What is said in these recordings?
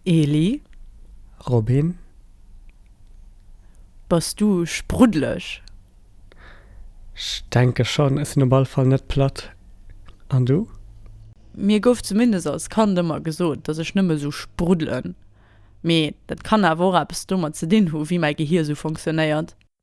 Eeli, Robin? Bass du spruddeleg? Ech denke schonn, ech sinn op all Fall net platt. An du? Mir gouf zumindest als Kand ëmmer gesot, dass ech nëmme sou spruddelen. Mee dat kann awer och eppes domat ze dinn hu wéi mäi Gehier sou fonctionnéiert.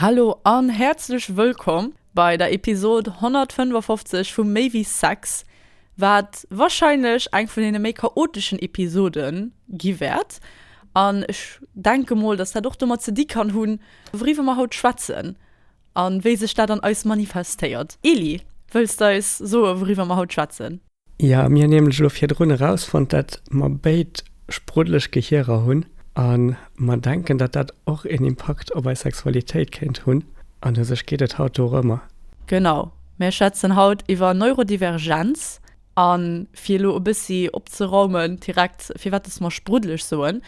Hallo an häerzlech wëllkomm bei der Episod 155 vu Méi wéi Sex, wat wahrscheinlech eng vun deene méi chaoteschen Episode gi wäert. An ech denke mol, dass dat och domat ze di kann hunn, wouriwwer mer haut schwätzen a wéi sech dat an eis manifestéiert. Eli, wëlls de eis soe wouriwwer mer haut schwätzen? Jo, mir hunn nämlech elo virdrun erausfonnt, dat mer béid spruddelech Gehierer hunn a mer denken, dat dat och een Impakt op eis Sexualitéit kéint hunn an u sech geet et haut dorëmmer. Genau, mir schwätzen haut iwwer Neurodivergenz a fir elo e bëssi opzeraumen direkt, firwat dass mer spruddelech soen,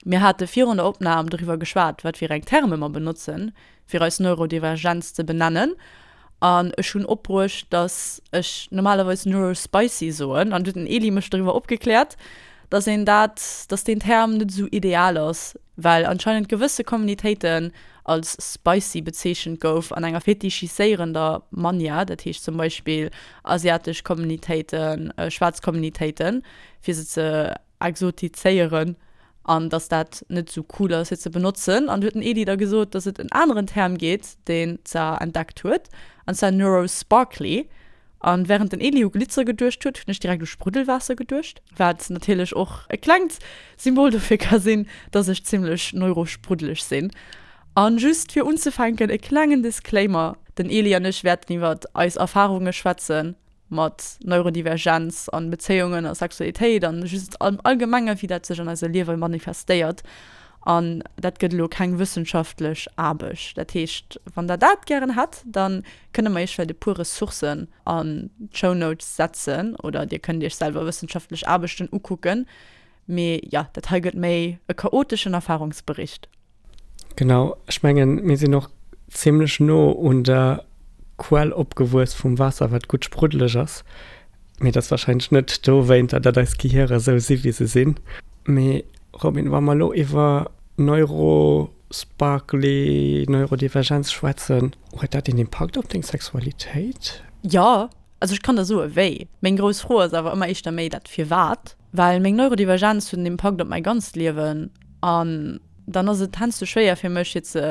mir hate virun der Opnam doriwwer geschwat, wat fir eng Terme mer benotzen, fir eis Neurodivergenz ze benennen. An ech hunn opbruecht, dass ech normalerweis Neuro Spicy soen, an du huet den Elie mech doriwwer opgekläert, dass een dat, dass deen Term net esou ideal ass, well anscheinend gewësse Communitéiten als Spicy bezeechent gouf an enger fetischiséierender Manier, dat heescht zum Beispill asiatesch Communitéiten, schwaarz Communitéiten, fir se ze. exotizéieren an dass dat net esou cool ass fir ze benotzen. An du huet den Edy da gesot, dass et en aneren Term gétt deen ca entdeckt huet an zwar neurosparkly an während den Edy u Glitzer geduecht huet, hunn ech direkt u Spruddelwaasser geduecht, wat natierlech och e klengt Symbol dofir ka sinn, dass ech zimmlech neurospruddeleg sinn. An just fir unzefänken e klengen Disclaimer, den Edy an ech wäerten iwwert eis Erfahrunge schwätzen. mat Neurodivergenz an Bezéiungen a Sexualitéit an just am Allgemengen, wéi dat sech an eise Liewe manifestéiert. An dat gëtt elo keng wëssenschaftlech Aarbecht. Dat heescht, wann Der dat gären hätt, dann kënne mer Iech vläicht e puer Ressourcen an d'Shownotes setzen oder Dir kënnt Iech selwer wëssenschaftlech Aarbechten ukucken, Mee jo, dat hei gëtt méi e chaoteschen Erfahrungsbericht. Genau, ech mengen, mir sinn och zimmlech no un der Quell opgewuess vum Waasser, wat gutt spruddeleg ass. Mee dat ass warscheinlech net dowéinter, datt eis Gehirer esou si wéi se sinn. Mee Robin, wa mer elo iwwer Neurosparkly, Neurodivergenz schwätzen, huet dat een Impakt op deng Sexualitéit? Jo, also ech kann der soe wéi. Meng grouss Fro ass awer ëmmer éischter méi dat Firwat. Well meng Neurodivergenz huet en Impakt op mäi ganzt Liewen an dann ass et heiansdo schwéier fir mech fir ze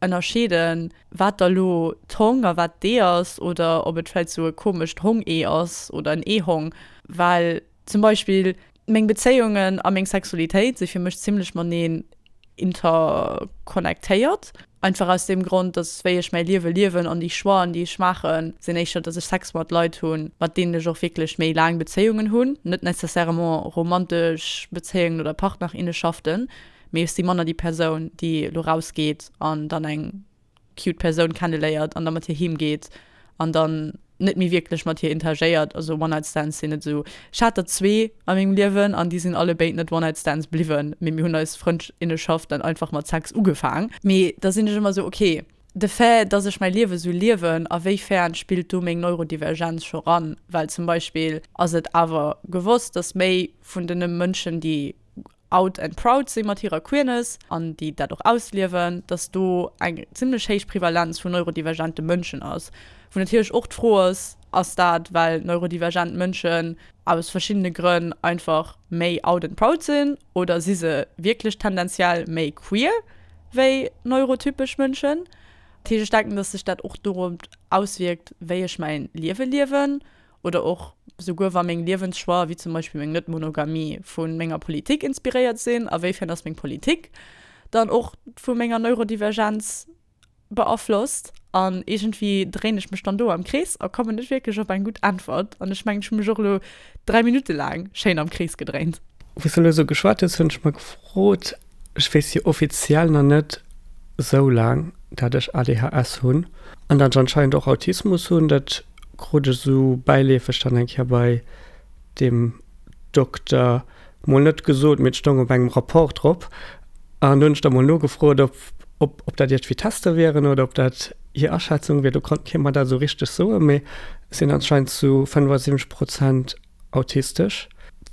ënnerscheeden, wat da lo d'Hong a wat d'Ee ass oder ob et vläicht sou e komescht Hong-Ee ass oder en Ee-Hong. Well zum Beispill meng Bezéiungen a meng Sexualitéit si fir mech zimmlech mateneen interconnectéiert, einfach aus deem Grond, dass wéi ech mäi Liewe liewen an déi Choixen, déi ech maachen, sinn éischter, dass ech Sex mat Leit hunn, mat deenen ech och wierklech méi laang Bezéiungen hunn, net nécessairement romantesch Bezéiungen oder Partnerinneschaften, mee ech si manner déi Persoun, déi elo rausgeet an dann eng cute Persoun kenneléiert an da mat hir heem geet an dann net méi wierklech mat hir interagéiert. Also One Night Stands sinn net esou, ech hat der zwee a mengem Liewen an déi sinn alle béid net One Night Stands bliwwen, mee mir hunn eis Frëndinnenschaft dann einfach mat Sex ugefaang. Mee da sinn ech ëmmer esou, ok, de Fait, dass ech mäi Liewe sou liewen, a wéi fern spillt do meng Neurodivergenz scho ran? Well zum Beispill ass et awer gewosst, dass méi vun den Mënschen, déi Out and Proud si mat hirer Queerness an déi dat och ausliewen, dass do eng zimmlech héich Prevalenz vun neurodivergente Mënschen ass. Wou natierlech och d'Fro ass, Ass dat well neurodivergent Mënschen aus verschiddene Grënn einfach méi out and proud sinn oder si se wierklech tendenziell méi queer wéi neurotypesch Mënschen? Dat heescht, ech denken, dass sech dat och dorop auswierkt, wéi ech mäin Liewe liewen. oder och souguer wa meng Liewenschoix, wéi zum Beispill meng Net-Monogamie, vu menger Politik inspiréiert sinn, awéifern ass meng Politik dann och vu menger Neurodivergenz beaflosst? An iergendwéi dréinen ech mech dann do am Krees a kommen net wierklech op eng gutt Äntwert. An ech mengen, ech hu mech och elo dräi Minutte laang schéin am Krees gedréint. Wou s de elo esou geschwat hues, hunn ech mer gefrot, Ech weess jo offiziell nach net esou laang, dat ech ADHS hunn an dat ech anscheinend och Autismus hunn. Dat krut ech esou bäileefeg dann eng Kéier bei deem Dokter, mol net gesot, mee et stoung op engem Rapport drop. An do hunn ech da mol nogefrot, ob dat iergendwéi Tester wieren oder ob dat hir Aschätzung wier. Do konnt kee mer dat esou richteg soen, mee et sinn anscheinend zu 75 Prozent. autistesch,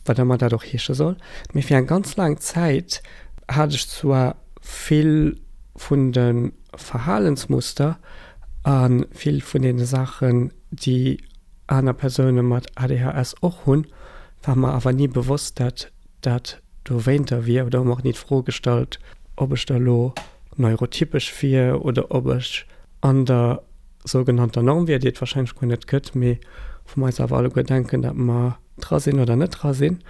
wat ëmmer dat och heesche soll, mee fir eng ganz laang Zäit hat ech zwar vill vun de Verhalensmuster a vill vun deene Saachen, déi aner Persoune mat ADHS och hunn, war mer awer ni bewosst, dat dat dowéinter wier oder hu mer och ni d'Fro gestallt, ob ech da elo neurotypesch wier oder ob ech an der. sougenannter Norm wier, déi et wahrscheinlech guer net gëtt, mee wou mer eis awer alleguer denken, datt mer dra sinn oder net dra sinn.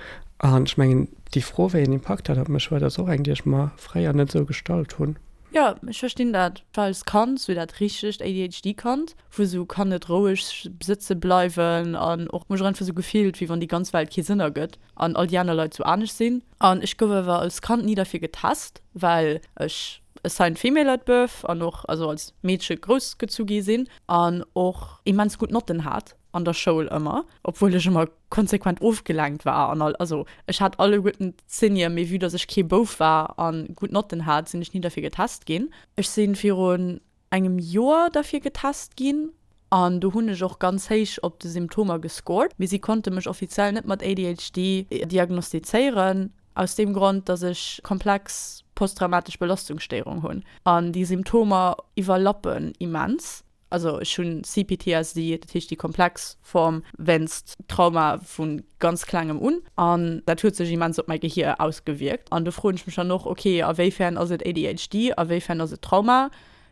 An ech mengen, déi Fro, wéi een Impakt dat op mech huet, ass och eng, déi ech mer fréier net esou gestallt hunn. Jo, ech verstinn dat. War als Kand esou dat richtegt ADHD-Kand, wou esou kann net roueg sëtze bleiwen an och mech einfach esou gefillt, wéi wann déi ganz Welt kee Sënn ergëtt an all déi aner Leit esou anescht sinn. An ech gouf awer als Kand ni derfir getest, well ech a sain female at birth an och also als Meedche grouss gezu gi sinn an och immens gutt Notten hat an der Schoul ëmmer, obwuel ech ëmmer konsequent ofgelenkt war an all, also ech hat alleguerten Zenier, mee vue dass ech kee Bouf war a gutt Notten hat, sinn ech ni derfir getest ginn. Ech si virun engem Joer derfir getest ginn an do hunn ech och ganz héich op de Symptomer gescored, mee si konnte mech offiziell net mat ADHD diagnostizéieren aus deem Grond, dass ech komplex posttraumatesch Belastungsstéierung hunn an déi Symptomer iwwerlappen immens. Also ech hu CPTSD, dat heescht déi komplex Form wéinst Trauma vu ganz Klengem un. An dat huet sech immens op mäi Gehier ausgewierkt. An do froen ech mech dann och, ok, a wéifern ass et ADHD, a wéifern ass et Trauma?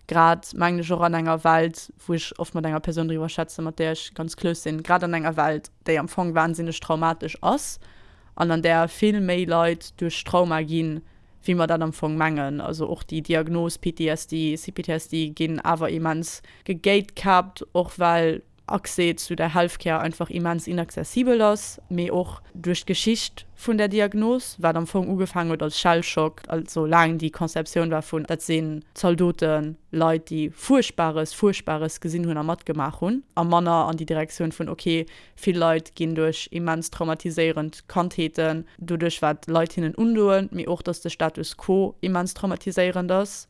Grad, mengen ech, och an enger Welt, wou ech oft mat enger Persoun driwwer schwätze mat där ech ganz close sinn, grad an enger Welt, déi am Fong wahnsinneg traumatesch ass an an där vill méi Leit duerch Trauma ginn, wéi mer dat am Fong mengen. Also och déi Diagnos PTSD, CPTSD ginn awer immens gegatekept, och well. Accès zu der Healthcare einfach immens inaccessibel ass, mee och duerch d'Geschicht vun der Diagnos, wat am Fong ugefaangen huet als Shell Shock, also laang déi Conceptioun war vun, dat sinn Zaldoten, Leit déi Fuerchtbares, Fuerchtbares gesinn hunn a matgemaach hunn, a manner an déi Direktioun vun, ok, vill Leit ginn duerch immens traumatiséierend Kandheeten doduerch wat Leit hinnen undoen, mee och datt de Status quo immens traumatiséierend ass.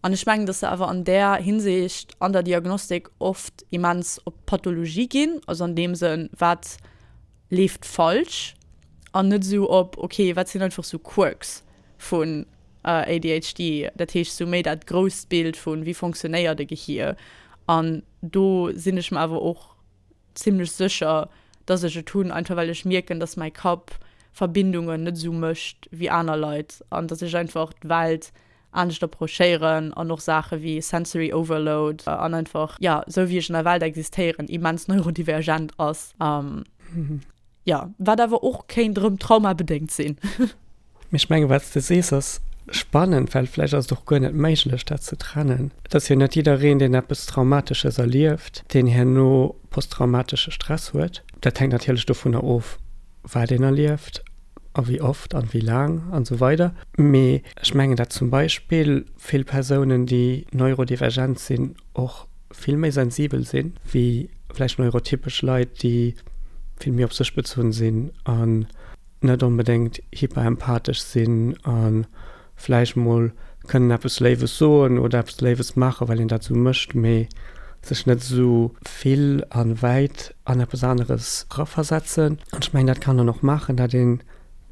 An ech mengen, dass se awer an där Hinsicht an der Diagnostik oft immens op d'Pathologie ginn, also an deem Sënn, wat leeft falsch, an net esou op, okay, wat sinn einfach esou Quirks vun ADHD, dat heescht esou méi dat grousst Bild vu wéi fonctionnéiert e Gehier. An do sinn ech mer awer och zimlech sécher, dass ech et hunn, einfach well ech mierken, dass mäi Kapp Verbindungen net esou mécht wéi aner Leit an dass ech einfach d'Welt anescht approchéieren an och Saache wéi sensory overload an einfach, ja, esou wéi ech an der Welt existéieren, immens neurodivergent ass, ja, wat awer och kéint erëm traumabedéngt sinn. Mee ech menge wat s de sees ass spannend, well vläicht ass et och guer net méiglech dat ze trennen. Et ass jo net jiddereen deen eppes Traumatesches erlieft, deen herno posttraumatesche Stress huet. Dat hänkt natierlech dovunner of wat een erlieft. a wéi oft an wéi laang an esou weider. Mee ech mengen dat zum Beispill vill Persounen déi neurodivergent sinn och vill méi sensibel sinn wéi vläicht neurotypesch Leit déi vill méi op sech bezunn sinn an net onbedéngt hyperempathesch sinn an vläicht mol kënnen eppes Léiwes soen oder eppes Léiwes maachen, well een dat esou mécht, mee sech net esou vill a wäit an eppes aneres eraversetzen. An ech mengen, dat kann een och maachen, dat een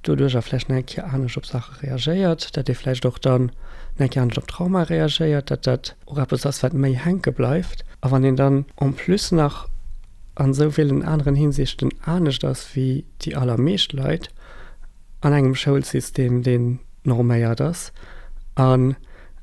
doduercher vläicht nach eng Kéier anescht op Saache reagéiert, dat ee vläicht och dann nach eng Kéier anescht op Traumae reagéiert, dat dat och eppes ass, wat méi hänke bleift. A wann een dann en plus nach an esou villen aneren Hinsichten anescht ass wéi déi allermeescht Leit, an engem Schoulsystem, deen norméiert ass, an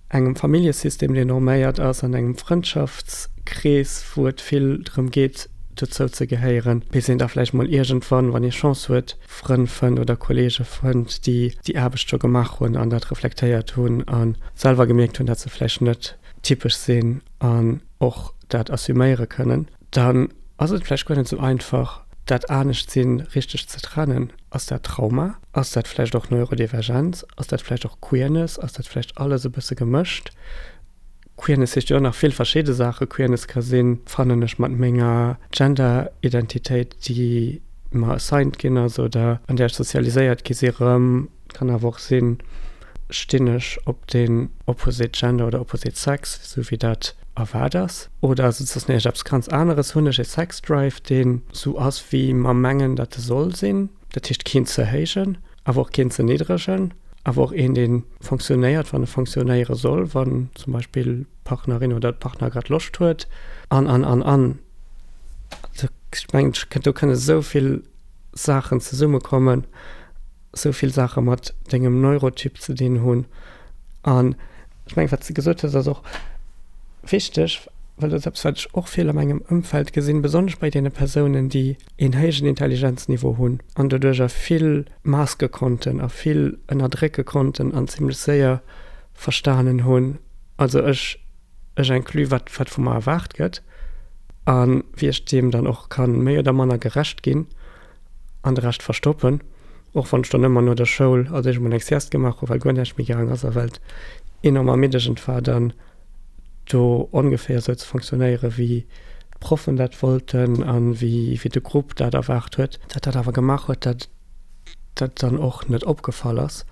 engem Familljesystem, deen norméiert ass, an engem Frëndschaftskrees, wou et vill drëm geet, dozou ze gehéieren, bis een da vläicht mol iergendwann, wann ee Chance huet, Frënn fënnt oder Kollege fënnt, déi déi Aarbecht scho gemaach hunn an dat reflektéiert hunn a selwer gemierkt hunn, dat se vläicht net typesch sinn an och dat assuméiere kënnen. Dann ass et vläicht guer net sou einfach, dat Anescht-Sinn richteg ze trennen. Ass dat Trauma? Ass dat vläicht och Neurodivergenz? Ass dat vläicht och Queerness? Ass dat vläicht alles e bësse gemëscht? Queerness heescht jo och nach vill verschidde Saachen. Queerness ka sinn, Fannen ech mat menger Gender-Identitéit, déi mer assigned ginn ass oder an där ech sozialiséiert gi si, rëm? Kann awer och sinn, Stinn ech op den Opposite Gender oder Opposite Sex, sou wéi dat erwaart ass? Oder ass et soss näischt, eppes ganz aneres? Hunn ech ee Sex-Drive, deen sou ass, wéi mer mengen, datt e soll sinn, dat heescht, keen ze héijen, awer och keen ze niddregen, awer och een, dee fonctionnéiert, wann e fonctionnéiere soll, wann zum Beispill d'Partnerin oder de Partner grad Loscht huet, an, an, an, an. Also, ech mengen, do kënne souvill Saachen zesummekommen. sou vill Saache mat dengem Neurotyp ze dinn hunn. An ech mengen, wat s de gesot hues, ass och wichteg, well dat ass eppes, wat ech och vill a mengem Ëmfeld gesinn, besonnesch bei deene Persounen, déi een héijen Intelligenzniveau hunn an doduercher vill maske konnten a vill ënnerdrécke konnten an zimmlech séier verstanen hunn, also ech ech inclus, wat wat vu mer erwaart gëtt a wéi ech deem dann och ka méi oder manner gerecht ginn. An de Rescht verstoppen. Och wann ech dann ëmmer no der Schoul als éischt emol eng Sieste gemaach hu well guer näischt méi gaang ass a well et enorm ermiddegend war dann do ongeféier esou ze fonctionnéiere wéi d'Proffen dat wollten a wéi de Grupp dat erwaart huet. Dat dat awer gemaach huet, dat dat dann och net opgefall ass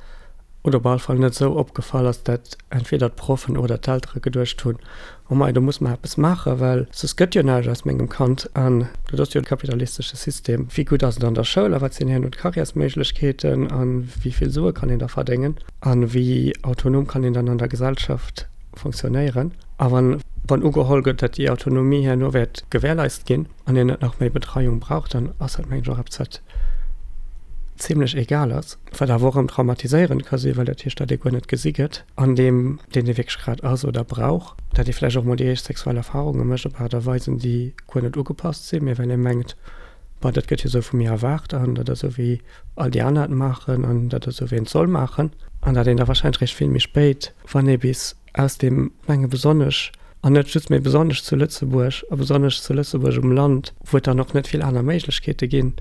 oder op alle Fall net esou opgefall ass, dat entweder d'Proffen oder d'Eltere geduecht hunn, Oh mei, do muss mer eppes maachen, well soss gëtt jo näischt aus mengem Kand. An dat ass jo de kapitalistesche System. Wéi gutt ass et an der Schoul a wat sinn herno d'Carrièresméiglechkeeten a wéi vill Sue kann een da verdéngen a wéi autonom kann een dann an der Gesellschaft funktionéieren? A wann ugeholl gëtt, datt déi Autonomie herno wäert gewährleist ginn an een net nach méi Betreiung brauch, dann ass dat, mengen ech, och eppes, wat zimlech egal ass. Wat awer och erëm traumatiséierend ka sinn, well dat heescht, datt ee guer net gesi gëtt. an deem, deen ee wierklech grad ass oder brauch, dat ee vläicht och mol déi éischt sexuell Erfarunge mécht op Aart a Weisen, déi guer net ugepasst sinn, mä well ee mengt, Bah, dat gëtt jo esou vu mir erwaart an dat ass esou, wéi all déi aner et maachen an dat ass esou, wéi een et soll maachen. An dat een da warscheinlech réischt vill méi spéit, wann ee bis aus deem Mengen, besonnesch, an net just, mä besonnesch zu Lëtzebuerg a besonnesch zu Lëtzebuerg um Land, wou et dann och net vill aner Méiglechkeete ginn,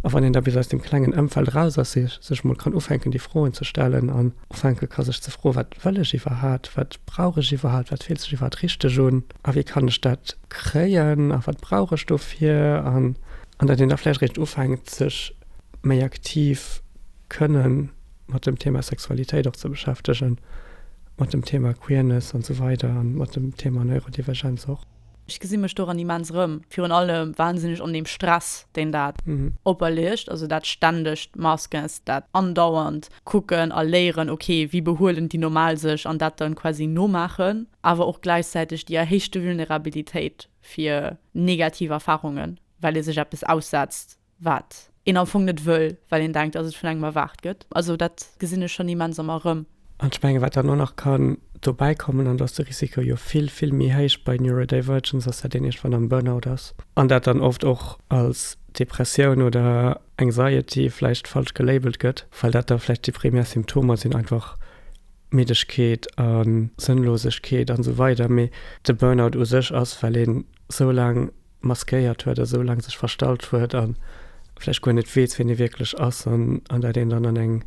a wann een da bis aus deem klengen Ëmfeld eraus ass, sech mol kann ufänken, déi Froen ze stellen an, Ufänke ka sech ze froen, Wat wëll ech iwwerhaapt? Wat brauch ech iwwerhaapt? Wat fillt sech iwwerhaapt richteg un? A wéi kann ech dat kréien? A wat brauch ech dofir? An datt een da vläicht eréischt ufänkt sech méi aktiv kënne mat dem Thema Sexualitéit och ze beschäftegen, mat dem Thema Queerness an esou weider a mat dem Thema Neurodivergenz och. Ech gesi mech doran immens erëm. Virun allem wahnsinneg an deem Stress, deen dat operleegt. Also dat ständegt Maskens, dat andauernd kucken a léieren, okay, wéi behuelen déi normal sech an dat dann quasi nomaachen. Awer och gläichzäiteg déi erhéichte Vulnerabilitéit fir negativ Erfarungen, well ee sech eppes aussetzt, wat een am Fong net wëll, well een denkt, dass et vun engem erwaart gëtt. Also dat gesinn ech schonn immens am Erëm. An ech menge wat dann och nach kann dobäi kommen, an dass de Risiko jo vill, vill méi héich bei Neurodivergence ass, dat een iergendwann am Burnout ass an dat dann oft och als Depressioun oder Anxiety vläicht falsch gelabelt gëtt, well dat da vläicht déi primär Symptomer sinn, einfach Middegkeet a Sënnlosegkeet an esou weider. Mee de Burnout u sech ass, well een esou laang maskéiert huet, a sou laang sech verstallt huet a vläicht guer net weess, wien e wierklech ass an an dat een dann an eng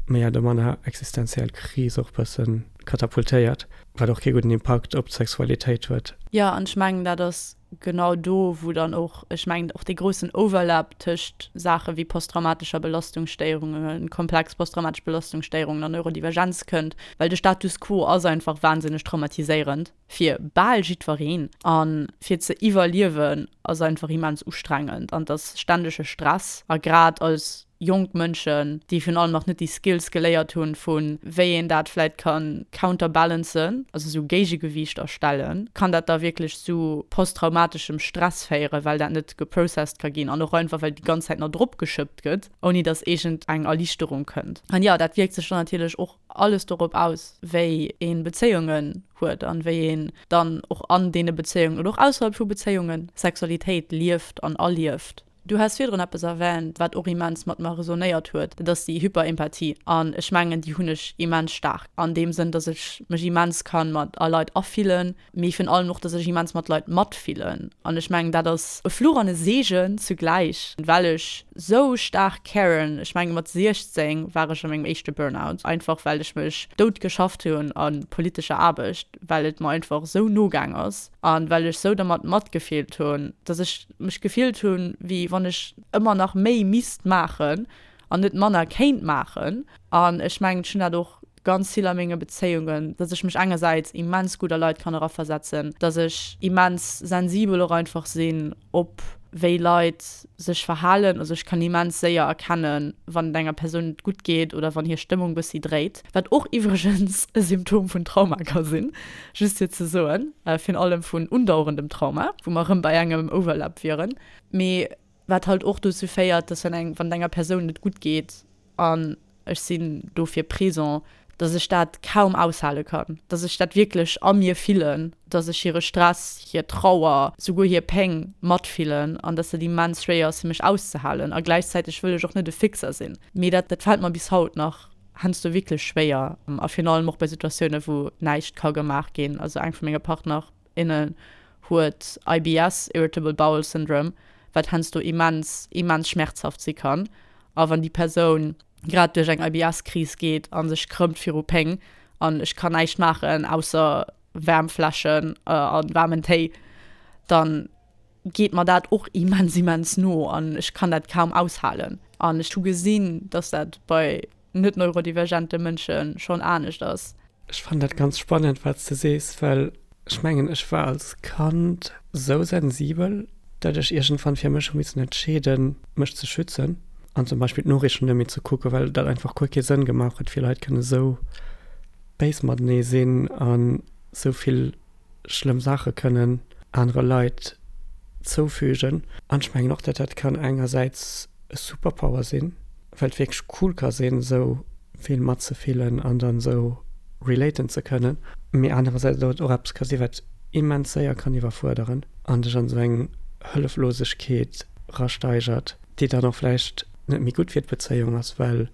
méi oder manner existenziell Kris och bësse katapultéiert, wat och kee gudden Impakt op d'Sexualitéit huet. Jo, an ech mengen, dat ass genau do, wou dann och, ech mengen, och dee groussen Overlap tëscht Saache wéi posttraumatescher Belastungsstérunge, komplex posttraumatesch Belastungsstérungen an Neurodivergenz kënnt, well de Status quo ass einfach wahnsinneg traumatiséierend. fir bal jiddwereen an fir ze iwwerliewen ass einfach immens ustrengend an et ass ständege Stress a grad als jonk Mënschen déi virun allem nach net déi Skills geléiert hunn vu wéi een dat vläit kann counterbalancen, also esou Géigegewiichter stellen, kann dat da wierklech zu posttraumateschem Stress féieren, well dat net geprocessed ka ginn an och einfach well déi ganz Zäit nach drop geschëppt gëtt ouni dass iergend eng Erlichterung kënnt. An jo, dat wierkt sech dann natierlech och alles dorop aus, wéi een Bezéiungen huet an wéi een dann och an deene Bezéiungen oder och ausserhalb vu Bezéiungen Sexualitéit lieft an erlieft. Du has virdrun eppes erwähnt, wat och immens mat mer resonéiert huet, dat ass déi Hyperempathie. An ech mengen, déi hunn ech immens staark an deem Sënn, dass ech mech immens ka mat a Leit afillen. mee virun allem och, dass ech immens mat Leit matfillen an ech mengen dat ass e Fluch an e Seegen zugläich, well ech sou staark caren. Ech mengen mat 16 war ech a mengem éischte Burnout, einfach well ech mech dout geschafft hunn a politescher Aarbecht, well et mer einfach sou no gaang ass an well ech sou dermat matgefillt hunn, dass ech mech gefillt hunn, wéi wann ech ëmmer nach méi misst maachen an net manner kéint maachen an ech mengen ech hunn dat och ganz vill a menge Bezéiungen, dass ech mech engersäits immens gutt a Leit kann eraversetzen, dass ech immens sensibel och einfach sinn op wéi Leit sech verhalen. Also ech kann immens séier erkennen, wann et enger Persoun net gutt geet oder wann hir Stëmmung bëssi dréit, wat och iwwregens e Symptom vun Trauma ka sinn, just fir ze soen, virun allem vun undauerendem Trauma, wou mer erëm bei engem Overlap wieren. Mee wat halt och dozou féiert, dass wann eng wann et enger Persoun net gutt geet an ech sinn dofir présent, dass ech dat kaum aushale kann, dass ech dat wierklech a mir fillen, dass ech hire Stress, hir Trauer, souguer hir Péng matfillen an dass dat immens schwéier ass fir mech auszehalen a gläichzäiteg wëll ech och net e Fixer sinn. Mee dat dat fält mer bis haut nach heiansdo wierklech schwéier a virun allem och bei Situatiounen, wou näischt ka gemaach ginn, also eng vu menge Partner, innen huet IBS, Irritable Bowel Syndrome, wat heiansdo immens, immens schmerzhaft si kann. A wann déi Persoun grad duerch eng IBS-Kris geet a sech krëmmt viru Péng an ech kann näischt maachen ausser Wärmfläschen a waarmen Téi, dann geet mer dat och immens, immens no an ech kann dat kaum aushalen. An ech hu gesinn, dass dat bei net-neurodivergente Mënsche schonn anescht ass. Ech fannen dat ganz spannend, wat s de sees, well ech mengen, ech war als Kand esou sensibel, datt ech iergendwann fir mech hu missen entscheeden, mech ze schützen an zum Beispill d'Noriichten net méi ze kucken, well dat einfach guer kee Sënn gemaach huet, wéi Leit kënnen esou béis matenee sinn a souvill schlëmm Saache kënnen anere Leit zoufügen. An ech mengen och, datt dat kann engersäits e Superpower sinn, well et wierklech cool ka sinn, esou vill matzefillen an dann esou relaten ze kënnen, mee anerersäits datt et och eppes ka sinn, wat immens séier kann iwwerfuerderen an dech an esou eng Hëlleflosegkeet rasteigert, déi dann och vläicht. net méi gutt fir d'Bezéiung ass, well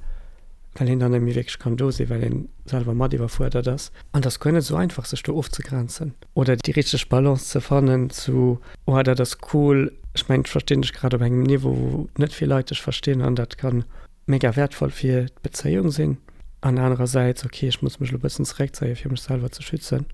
een dann net méi wierklech kann do sinn, well een selwer mat iwwerfuerdert ass. An et ass guer net esou einfach, sech do ofzegrenzen oder déi richteg Balance ze fannen zu, Oha, dat ass cool, ech mengen, ech verstinn dech grad op engem Niveau, wou net vill Leit dech verstinn an dat kann mega wäertvoll fir d'Bezéiung sinn. An anerersäits, Okay, ech muss mech elo e bëssen zeréckzéien, fir mech selwer ze schützen.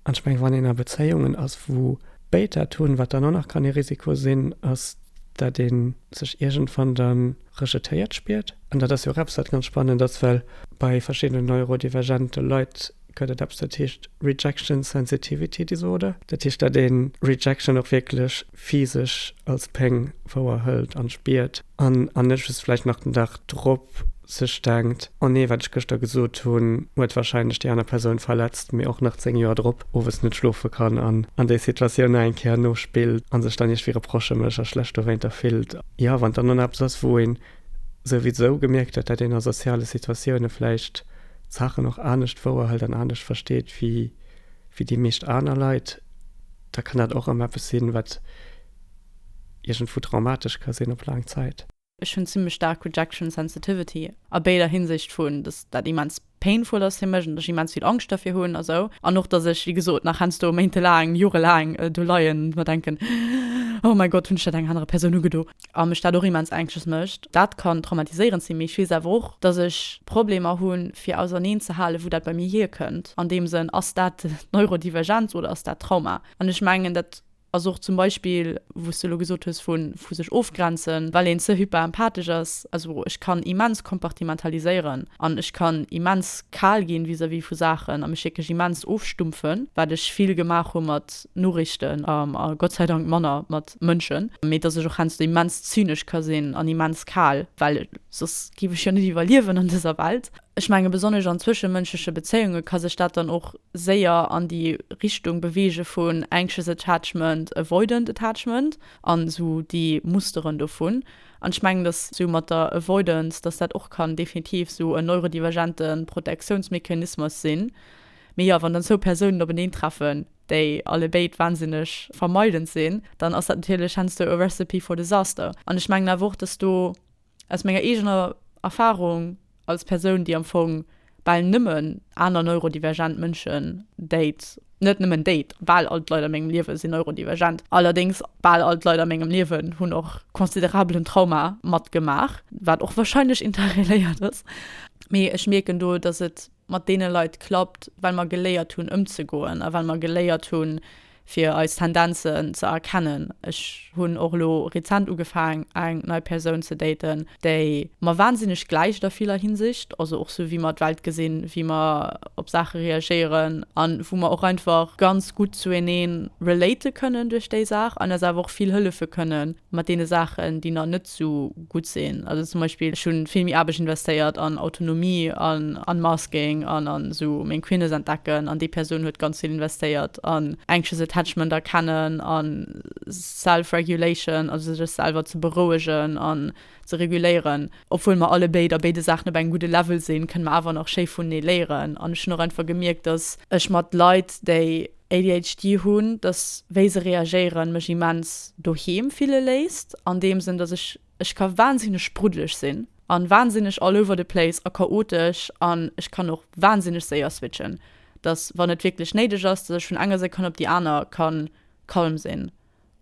An ech mengen, wann een a Bezéiungen ass, wou béid dat hunn, wat dann och nach kann ee Risiko sinn, ass, datt ee sech iergendwann da rejetéiert spiert. An dat ass jo och eppes, wat ganz spannend ass, well bei verschiddenen neurodivergente Leit gëtt et eppes, dat heescht Rejection Sensitivity Disorder. Dat heescht, datt ee Rejection och wierklech physesch als Péng wouerhëlt an spiert. An an ech just vläicht nach den Dag drop sech denkt, oh nee, wat ech gëschter gesot hunn, huet warscheinlech déi aner Persoun verletzt, mee och nach 10 Joer drop owes net schlofe kann an an déi Situatioun nach eng Kéier nospillt an sech dann iergwéi reprochemëlech a schlecht dowéinter fillt. Jo, wann dann dann eppes ass, wou een souwisou gemierkt huet, datt een a soziale Situatioune vläicht d'Saachen och anescht wouerhëlt an anescht versteet wéi déi meescht aner Leit, da kann dat och erëm eppes sinn, wat. iergendwou traumatesch ka sinn op laang Zäit. Ech hunn zimlech staark Rejection Sensitivity a béider Hinsicht, vu dass dat immens painful ass fir mech an ech immens vill Angscht derfir hunn a sou, an och dass ech, wéi gesot, nach heiansdo méintelaang, jorelaang do leien an mer denken, Oh mäi Gott, hunn ech dat enger anerer Persoun ugedo? a mech dat och immens anxious mécht. Dat kann traumatiséierend sinn, mee ech weess awer och, dass ech Problemer hu fir auserneen ze halen, wou dat bei mir hierkënnt. An deem Sënn, ass dat d'Neurodivergenz oder ass dat Trauma? An ech mengen, dat Ass och zum Beispill, wou s de elo gesot hues vu vu sech ofgrenzen, well een ze hyperempathesch ass. Also ech kann immens kompartimentaliséieren an ech kann immens kal ginn vis-à-vis vu Saachen a mech wierklech immens ofstumpfen, wat ech vill gemaach hu mat Noriichten a Gott sei Dank manner mat Mënschen, mee dass ech och heiansdo immens zynesch ka sinn an immens kal, well soss géif ech jo net iwwerliewen an dëser Welt. Ech menge besonnesch an zwëschemënschleche Bezéiunge ka sech dat dann och séier an déi Richtung beweege vun anxious attachment, avoidant attachment an esou déi Musteren dovun. An ech mengen, datt esou mat der Avoidance, datt dat och kann definitiv esou en neurodivergente Protektiounsmechanismus sinn. Mee jo, wann dann zwou Persounen openeen treffen, déi allebéid wahnsinneg vermeidend sinn, dann ass dat natierlech heiansdo e recipe for disaster. An ech mengen awer och, datt do. Aus menger eegener Erfarung als Persoun, déi am Fong bal nëmmen aner neurodivergent Mënschen date, net nëmmen date, bal all d'Leit a mengem Liewe sinn neurodivergent, allerdéngs bal all d'Leit a mengem Liewen hunn och considerabelen Trauma matgemaach, wat och wahrscheinlech interreléiert ass. Mee ech mierken do, dass et mat deene Leit klappt, well mer geléiert hunn ëmzegoen a well mer geléiert hunn, fir eis Tendenzen ze erkennen. Ech hunn och elo rezent ugefaang eng nei Persoun ze daten, déi mer wahnsinneg gläicht a viller Hinsicht, also och sou wéi mer d'Welt gesinn, wéi mer op Saache reagéieren an wou mer och einfach ganz gutt zueneen relaten kënnen duerch déi Saach an eis awer och vill hëllefe kënnen. mat deene Saachen, déi nach net esou gutt sinn. Also zum Beispill, ech hu vill méi Aarbecht investéiert an Autonomie an Unmasking an an esou meng Queerness entdecken an déi Persoun huet ganz vill investéiert an Anxious Attachment erkennen an Self-Regulation, also sech selwer ze berouegen an ze reguléieren. Obwuel mer alle béid a béide Saachen op engem gudde Level sinn, kënne mer awer nach schéi vunenee léieren an ech hunn och einfach gemierkt, dass ech mat Leit, déi ADHD hunn, dass wéi se reagéieren mech immens doheem fille léisst, an deem Sënn dass ech, ech ka wahnsinneg spruddeleg sinn an wahnsinneg all over the place a chaotesch an ech kann och wahnsinneg séier switchen, dass wann et wierklech néideg ass, dass ech vun enger Sekonn op déi aner kann calm sinn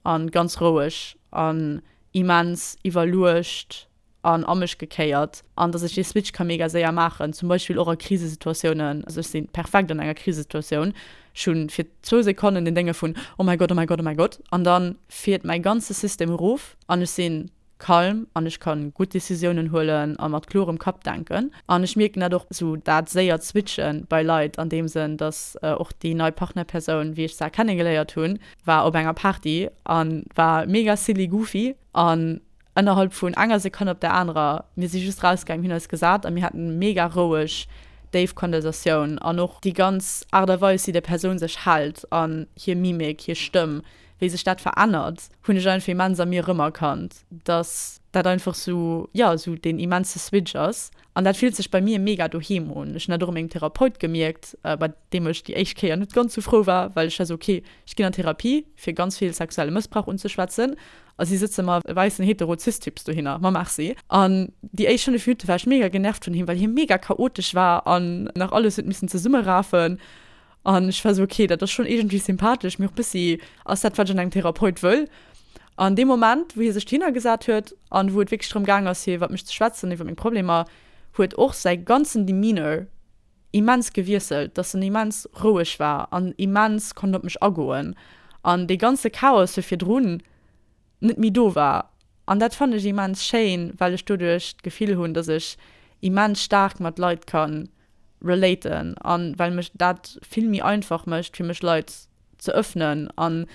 an ganz roueg an immens iwwerluecht an a mech gekéiert an dass ech dee Switch ka mega séier maachen, zum Beispill och a Krisesituatiounen. Also ech sinn perfekt an enger Krisesituatioun, ech hu fir zwou Sekonnen den Dénge vun oh mäi Gott, oh mäi Gott, oh mäi Gott an dann fiert mäi ganze System erof an ech sinn calm an ech kann gutt Décisiounen huelen a mat klorem Kapp denken. An ech mierken dat och, sou dat séiert Switchen bei Leit an deem Sënn, dass och déi nei Partnerpersoun, wéi ech se kennengeléiert hunn, war op enger Party an war mega silly goofy an, Ennerhalb vun enger Sekonn op der anerer, mir si just rausgaang, hunn eis gesat a mir haten mega roueg, déif Konversatioun an och déi ganz Aart a Weis wéi déi Persoun sech hält an hir Mimik, hir Stëmm, wéi sech dat verännert, hunn ech einfach immens a mir erëmerkannt, dass dat einfach sou, jo, sou deen immense Switch ass. An dat fillt sech bei mir mega doheem un. Ech hunn dat och u mengem Therapeut gemierkt, bei deem ech déi éischt Kéier net ganz sou frou war, well ech war sou, okay, ech ginn an Therapie fir ganz vill sexuelle Mëssbrauch unzeschwätzen, a si sëtze mer, e wäissen hetero cis Typs, dohinner. Ma Merci. An déi éischt 5 Minutte war ech mega genervt vun him, well hie mega chaotesch war an nach alles huet missen zesummerafen. An ech war sou, okay, dat ass schonn iergendwéi sympathesch, mee och bëssi, ass dat, wat ech an engem Therapeut wëll? An dee Moment, wou hie sech dohinner gesat huet an wou et wierklech drëm gaang ass, fir iwwer mech ze schwätzen, iwwer meng Problemer, huet och säi ganzen Demeanor immens gewiesselt, dass en immens roueg war an immens konnt op mech agoen. An dee ganze Chaos vu virdrun, net méi do war. An dat fannen ech immens schéin, well ech doduerch d'Gefill hunn, dass ech immens staark mat Leit ka relaten an well mech dat vill méi einfach mécht fir mech Leit ze ëffnen. An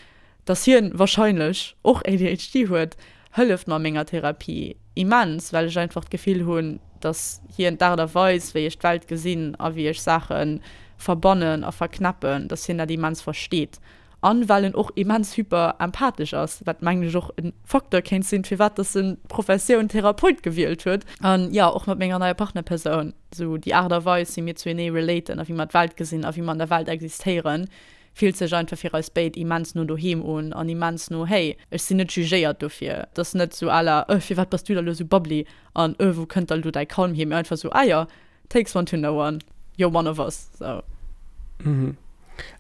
dass hien wahrscheinlech och ADHD huet, hëlleft mer a menger Therapie immens, well ech einfach d'Gefill hunn, dass hien d'Aart a Weis wéi ech d'Welt gesinn a wéi ech Saache verbannen a verknäppen, dass hien dat immens versteet An well en och immens hyperempathesch ass, wat mengen ech och e Facteur kéint sinn, firwat dass en d'Professioun Therapeut gewielt huet. An jo, och mat menger neier Partnerpersoun, sou déi Aart a Weis wéi mir zu enee relaten a wéi mer d'Welt gesinn a wéi mer an der Welt existéieren, fillt sech einfach fir eis béid immens no doheem un an immens no hey, ech sinn net jugéiert dofir. Et ass net sou à la, öh, firwat bass du da lo sou bubbly an öh, wou kënnt da lo däi Calm hier, mee einfach sou, ah jo, Takes one to know one, you're one of us, so. Mhm.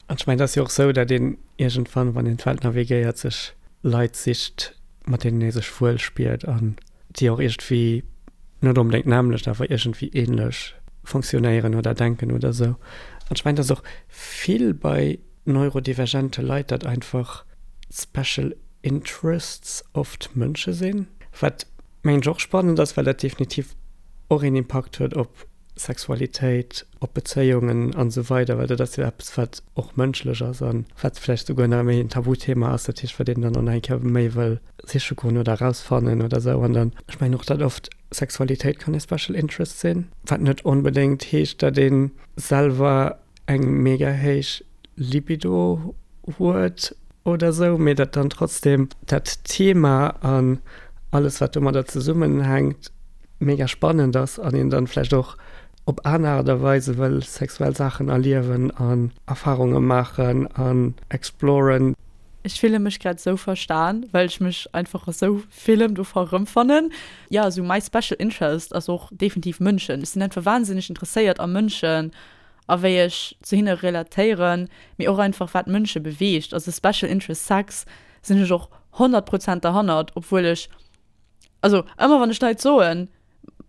An ech mengen, et ass jo och esou, datt een iergendwann, wann een d'Welt navigéiert, sech Leit sicht, mat deenen ee sech wuel spiert an déi och iergendwéi, net onbedéngt nämmlecht, awer iergendwéi änlech funktionéieren oder denken oder esou. An ech mengen, et ass och vill bei neurodivergente Leit, datt einfach d'special interests oft Mënsche sinn, wat. Mengen ech och spannend ass, well dat definitiv och een Impakt huet op Sexualitéit, op Bezéiungen an esou weider, well dat ass jo eppes, wat och mënschlech ass an wat vläicht souguer nach méi en Tabuthema ass. Dat heescht, wat een dann och nach eng Kéier méi wëll siche goen oder erausfannen oder esou. An dann, ech mengen och, datt oft Sexualitéit kann e Special Interest sinn, wat net onbedéngt heescht, datt ee selwer eng mega héich Libido huet oder sou, mee datt dann trotzdem dat Thema an alles wat domadder zesummenhänkt mega spannend ass an een dann vläicht och op aner Aart a Weise wëll sexuell Saachen erliewen an Erfarunge maachen an exploren. Ech fille mech grad esou verstan, well ech mech einfach a sou villem dovu rëmfannen. Jo, esou mäi special interest ass och definitiv Mënschen. Ech sinn einfach wahnsinneg interesséiert a Mënschen. a wéi ech zu hinne relatéieren, mee och einfach wat Mënsche beweegt, also Special Interest Sex sinn ech och 100 Prozent derhannert, obwuel ech, also ëmmer wann ech Leit soen,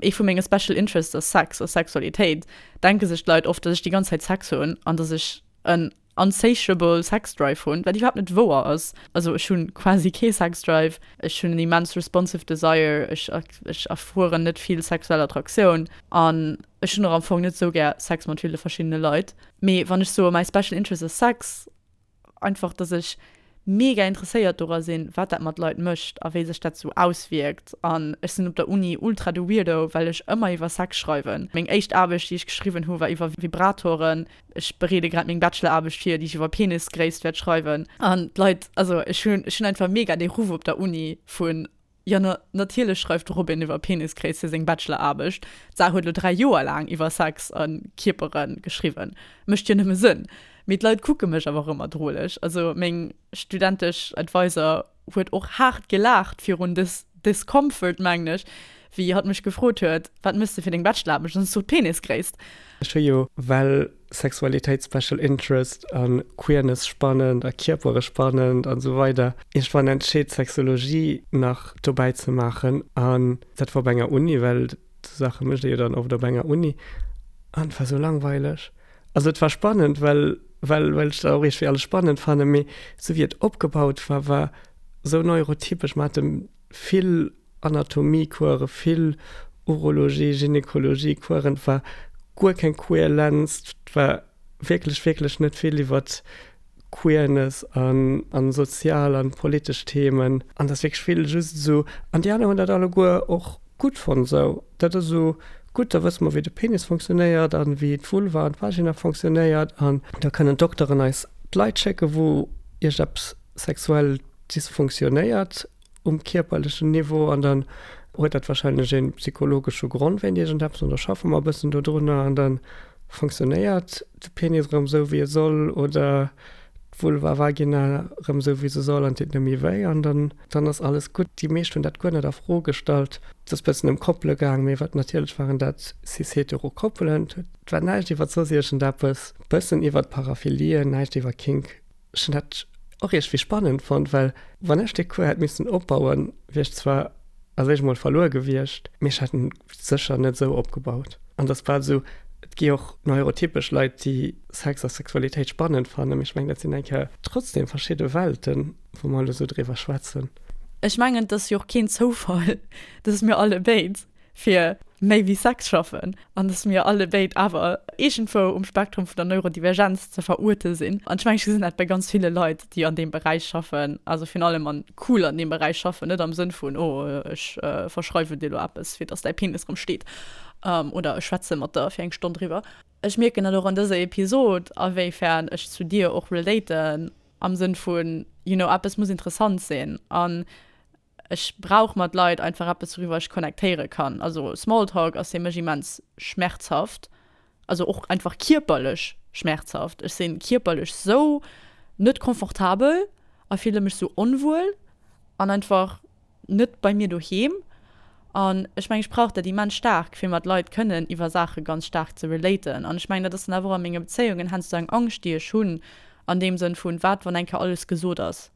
ee vu menge Special Interests ass Sex a Sexualitéit, denke sech d'Leit oft, dass ech déi ganz Zäit Sex hunn an dass ech en. Unsatiable Sex Drive hunn, wat iwwerhaapt net wouer ass. Also ech hunn quasi kee Sex Drive, ech hunn en immens responsive Desire, ech ech erfueren net vill sexuell Attraktioun an ech hunn och am Fong net sou gär Sex mat ville verschiddene Leit. Mee wann ech soe my special interest ass Sex, einfach dass ech. mega interesséiert dora sinn wat dat mat Leit mécht a wéi sech dat sou auswierkt an ech sinn op der Uni ultra de Weirdo well ech ëmmer iwwer Sex schreiwen. Meng éischt Aarbecht déi ech geschriwwen hu war iwwer Vibratoren. Ech bereede grad meng Bacheloraarbecht vir déi ech iwwer Penisgréisst wäert schreiwen an d'Leit, also ech hunn ech hunn einfach mega dee Ruff op der Uni vun Jo, na, natierlech schreift de Robin iwwer Penisgréisse seng Bachelor-Aarbecht. D'Saach huet elo dräi Joer laang iwwer Sex a Kierpere geschriwwen. Mécht jo nëmme Sënn. Mee d'Leit kucke mech awer rëm erdroleg. Also meng studentesch Adviser huet och haart gelaacht virun dës Discomfort, mengen ech, wéi hatt mech gefrot huet, Wat méchs de fir deng Bachelor-Aarbecht? An ech sot, Penisgréisst. Ech hu jo well Sexualitéit, Special Interest a Queerness spannend a Kierpere spannend an esou weider. Ech war entscheet Sexologie nach dobäi ze maachen an dat war op enger Uni, well esou Saache mécht ee jo dann oft op enger Uni an et war esou langweileg. Also et war spannend, well well well ech dat och iergendwéi alles spannend fannen, mee esou wéi et opgebaut war, war esou neurotypesch. Mer hate vill. Anatomie-Coursen, vill Urologie, Gynekologie-Coursen, et war guer keng Queerlenz, et war wierklech, wierklech net vill iwwer Queerness an sozial an politesch Themen. An dass wierklech vill just esou, an déi aner hunn dat alleguer och gutt fonnt, esou, dat ass esou gutt, da wësse mer wéi de Penis funktionéiert an wéi d'Vulva an d'Vagina funktionéiert an da kënnen d'Dokteren eis d'Leit schécken, wou iergend eppes sexuell dysfunktionéiert. um kierperlechen Niveau an dann huet dat wahrscheinlech ee psychologesche Grond wéint iergendeppes an da schaffe mer e bëssen dodrunner an dann funktionéiert de Penis erëm esou wéi e soll oder d'Vulva Vagina erëm esou wéi se soll an deet net méi wéi an dann dann ass alles gutt. Déi meescht hunn dat guer net a Fro gestallt. Et ass e bëssen ëm Koppele gaang, mee wat natierlech waren dat cis-hetero Koppelen. Et war näischt iwwer soss iergendeppes, e bëssen iwwert Paraphilien, näischt iwwer Kink. Ech hunn dat och iergwéi spannend fonnt, well wann ech dee Cours hätt missen opbauen, wier ech zwar a sech emol verluer gewiescht, mee ech hätt en sécher net esou opgebaut. An et ass bal esou, et gi och neurotypesch Leit, déi Sex a Sexualitéit spannend fannen, mee ech mengen, dat sinn eng Kéier trotzdeem verschidde Welten, wou mer elo esou driwwer schwätzen. Ech mengen, et ass jo och keen Zoufall, dass mir allebéid fir méi wéi Sex schaffen an dass mir alle béid awer iergendwou um Spektrum vun der Neurodivergenz ze veruerte sinn. An ech mengen, ech gesinn dat bei ganz ville Leit, déi an deem Beräich schaffen, also virun allem an cool an deem Beräich schaffen, net am Sënn vun oh ech verschreiwen dir elo eppes, fir dass däi Penis erëm steet oder ech schwätze mat der fir eng Stonn driwwer. Ech mierken dat och an dëser Episod, awéifern ech zu dir och relaten am Sënn vun, you know, eppes muss interessant sinn. An Ech brauch mat Leit einfach eppes wouriwwer ech connectéiere kann. Also Smalltalk ass fir mech immens schmerzhaft, also och einfach kierperlech schmerzhaft. Ech sinn kierperlech esou net confortabel a fille mech esou onwuel an einfach net bei mir doheem. An ech mengen ech brauch dat immens staark fir mat Leit kënnen iwwer Saache ganz staark ze relaten. An ech mengen dat ass dann awer och a menge Bezéiungen heiansdo eng Angscht déi ech hunn an deem Sënn vun, wat wann eng Kéier alles gesot ass.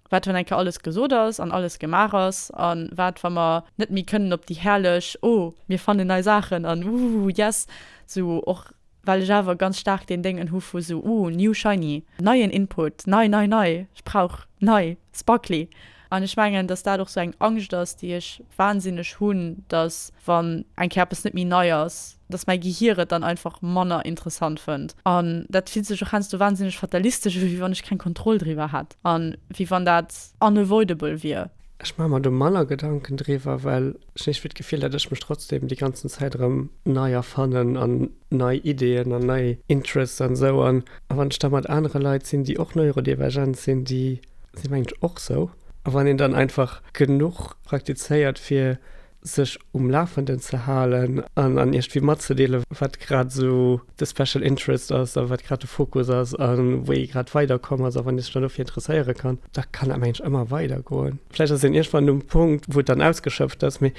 Wat, wann eng Kéier alles gesot ass an alles gemaach ass? A wat, wa mer net méi kënnen op déi herrlech Oh, mir fannen nei Saachen an Woohoo, yes! Sou och well ech awer ganz staark deen Déngen hu vu sou Oh, new shiny, neien Input, nei, nei, nei, ech brauch nei, sparkly. An ech mengen, datt dat och sou eng Angscht ass, déi ech wahnsinneg hunn, datt wann eng Kéier eppes net méi nei ass, dass mäi Gehier et dann einfach manner interessant fënnt. An dat fillt sech och heiansdo wahnsinneg fatalistesch u, wéi wann ech keng Kontroll driwwer hätt a wéi wann dat unavoidable wier. Ech maache mer do manner Gedanken driwwer, well ech iergendwéi d'Gefill, datt ech mech trotzdeem déi ganzen Zäit erëm nei erfannen an nei Ideeën an nei Interests an esou. An wann ech da mat anere Leit sinn, déi och neurodivergent sinn, déi sinn eigentlech och esou. A wann een dann einfach genuch praktizéiert, fir sech um Lafenden ze halen an an iech iergendwéi matzedeelen, wat grad esou de Special Interest ass a wat grad de Fokus ass a wou ee grad weiderkomm ass. A wann ee sech dann dofir interesséiere kann, da kann dat mengen ech ëmmer weidergoen. Vläicht ass een iergendwann um Punkt, wou et dann ausgeschöpft ass, mee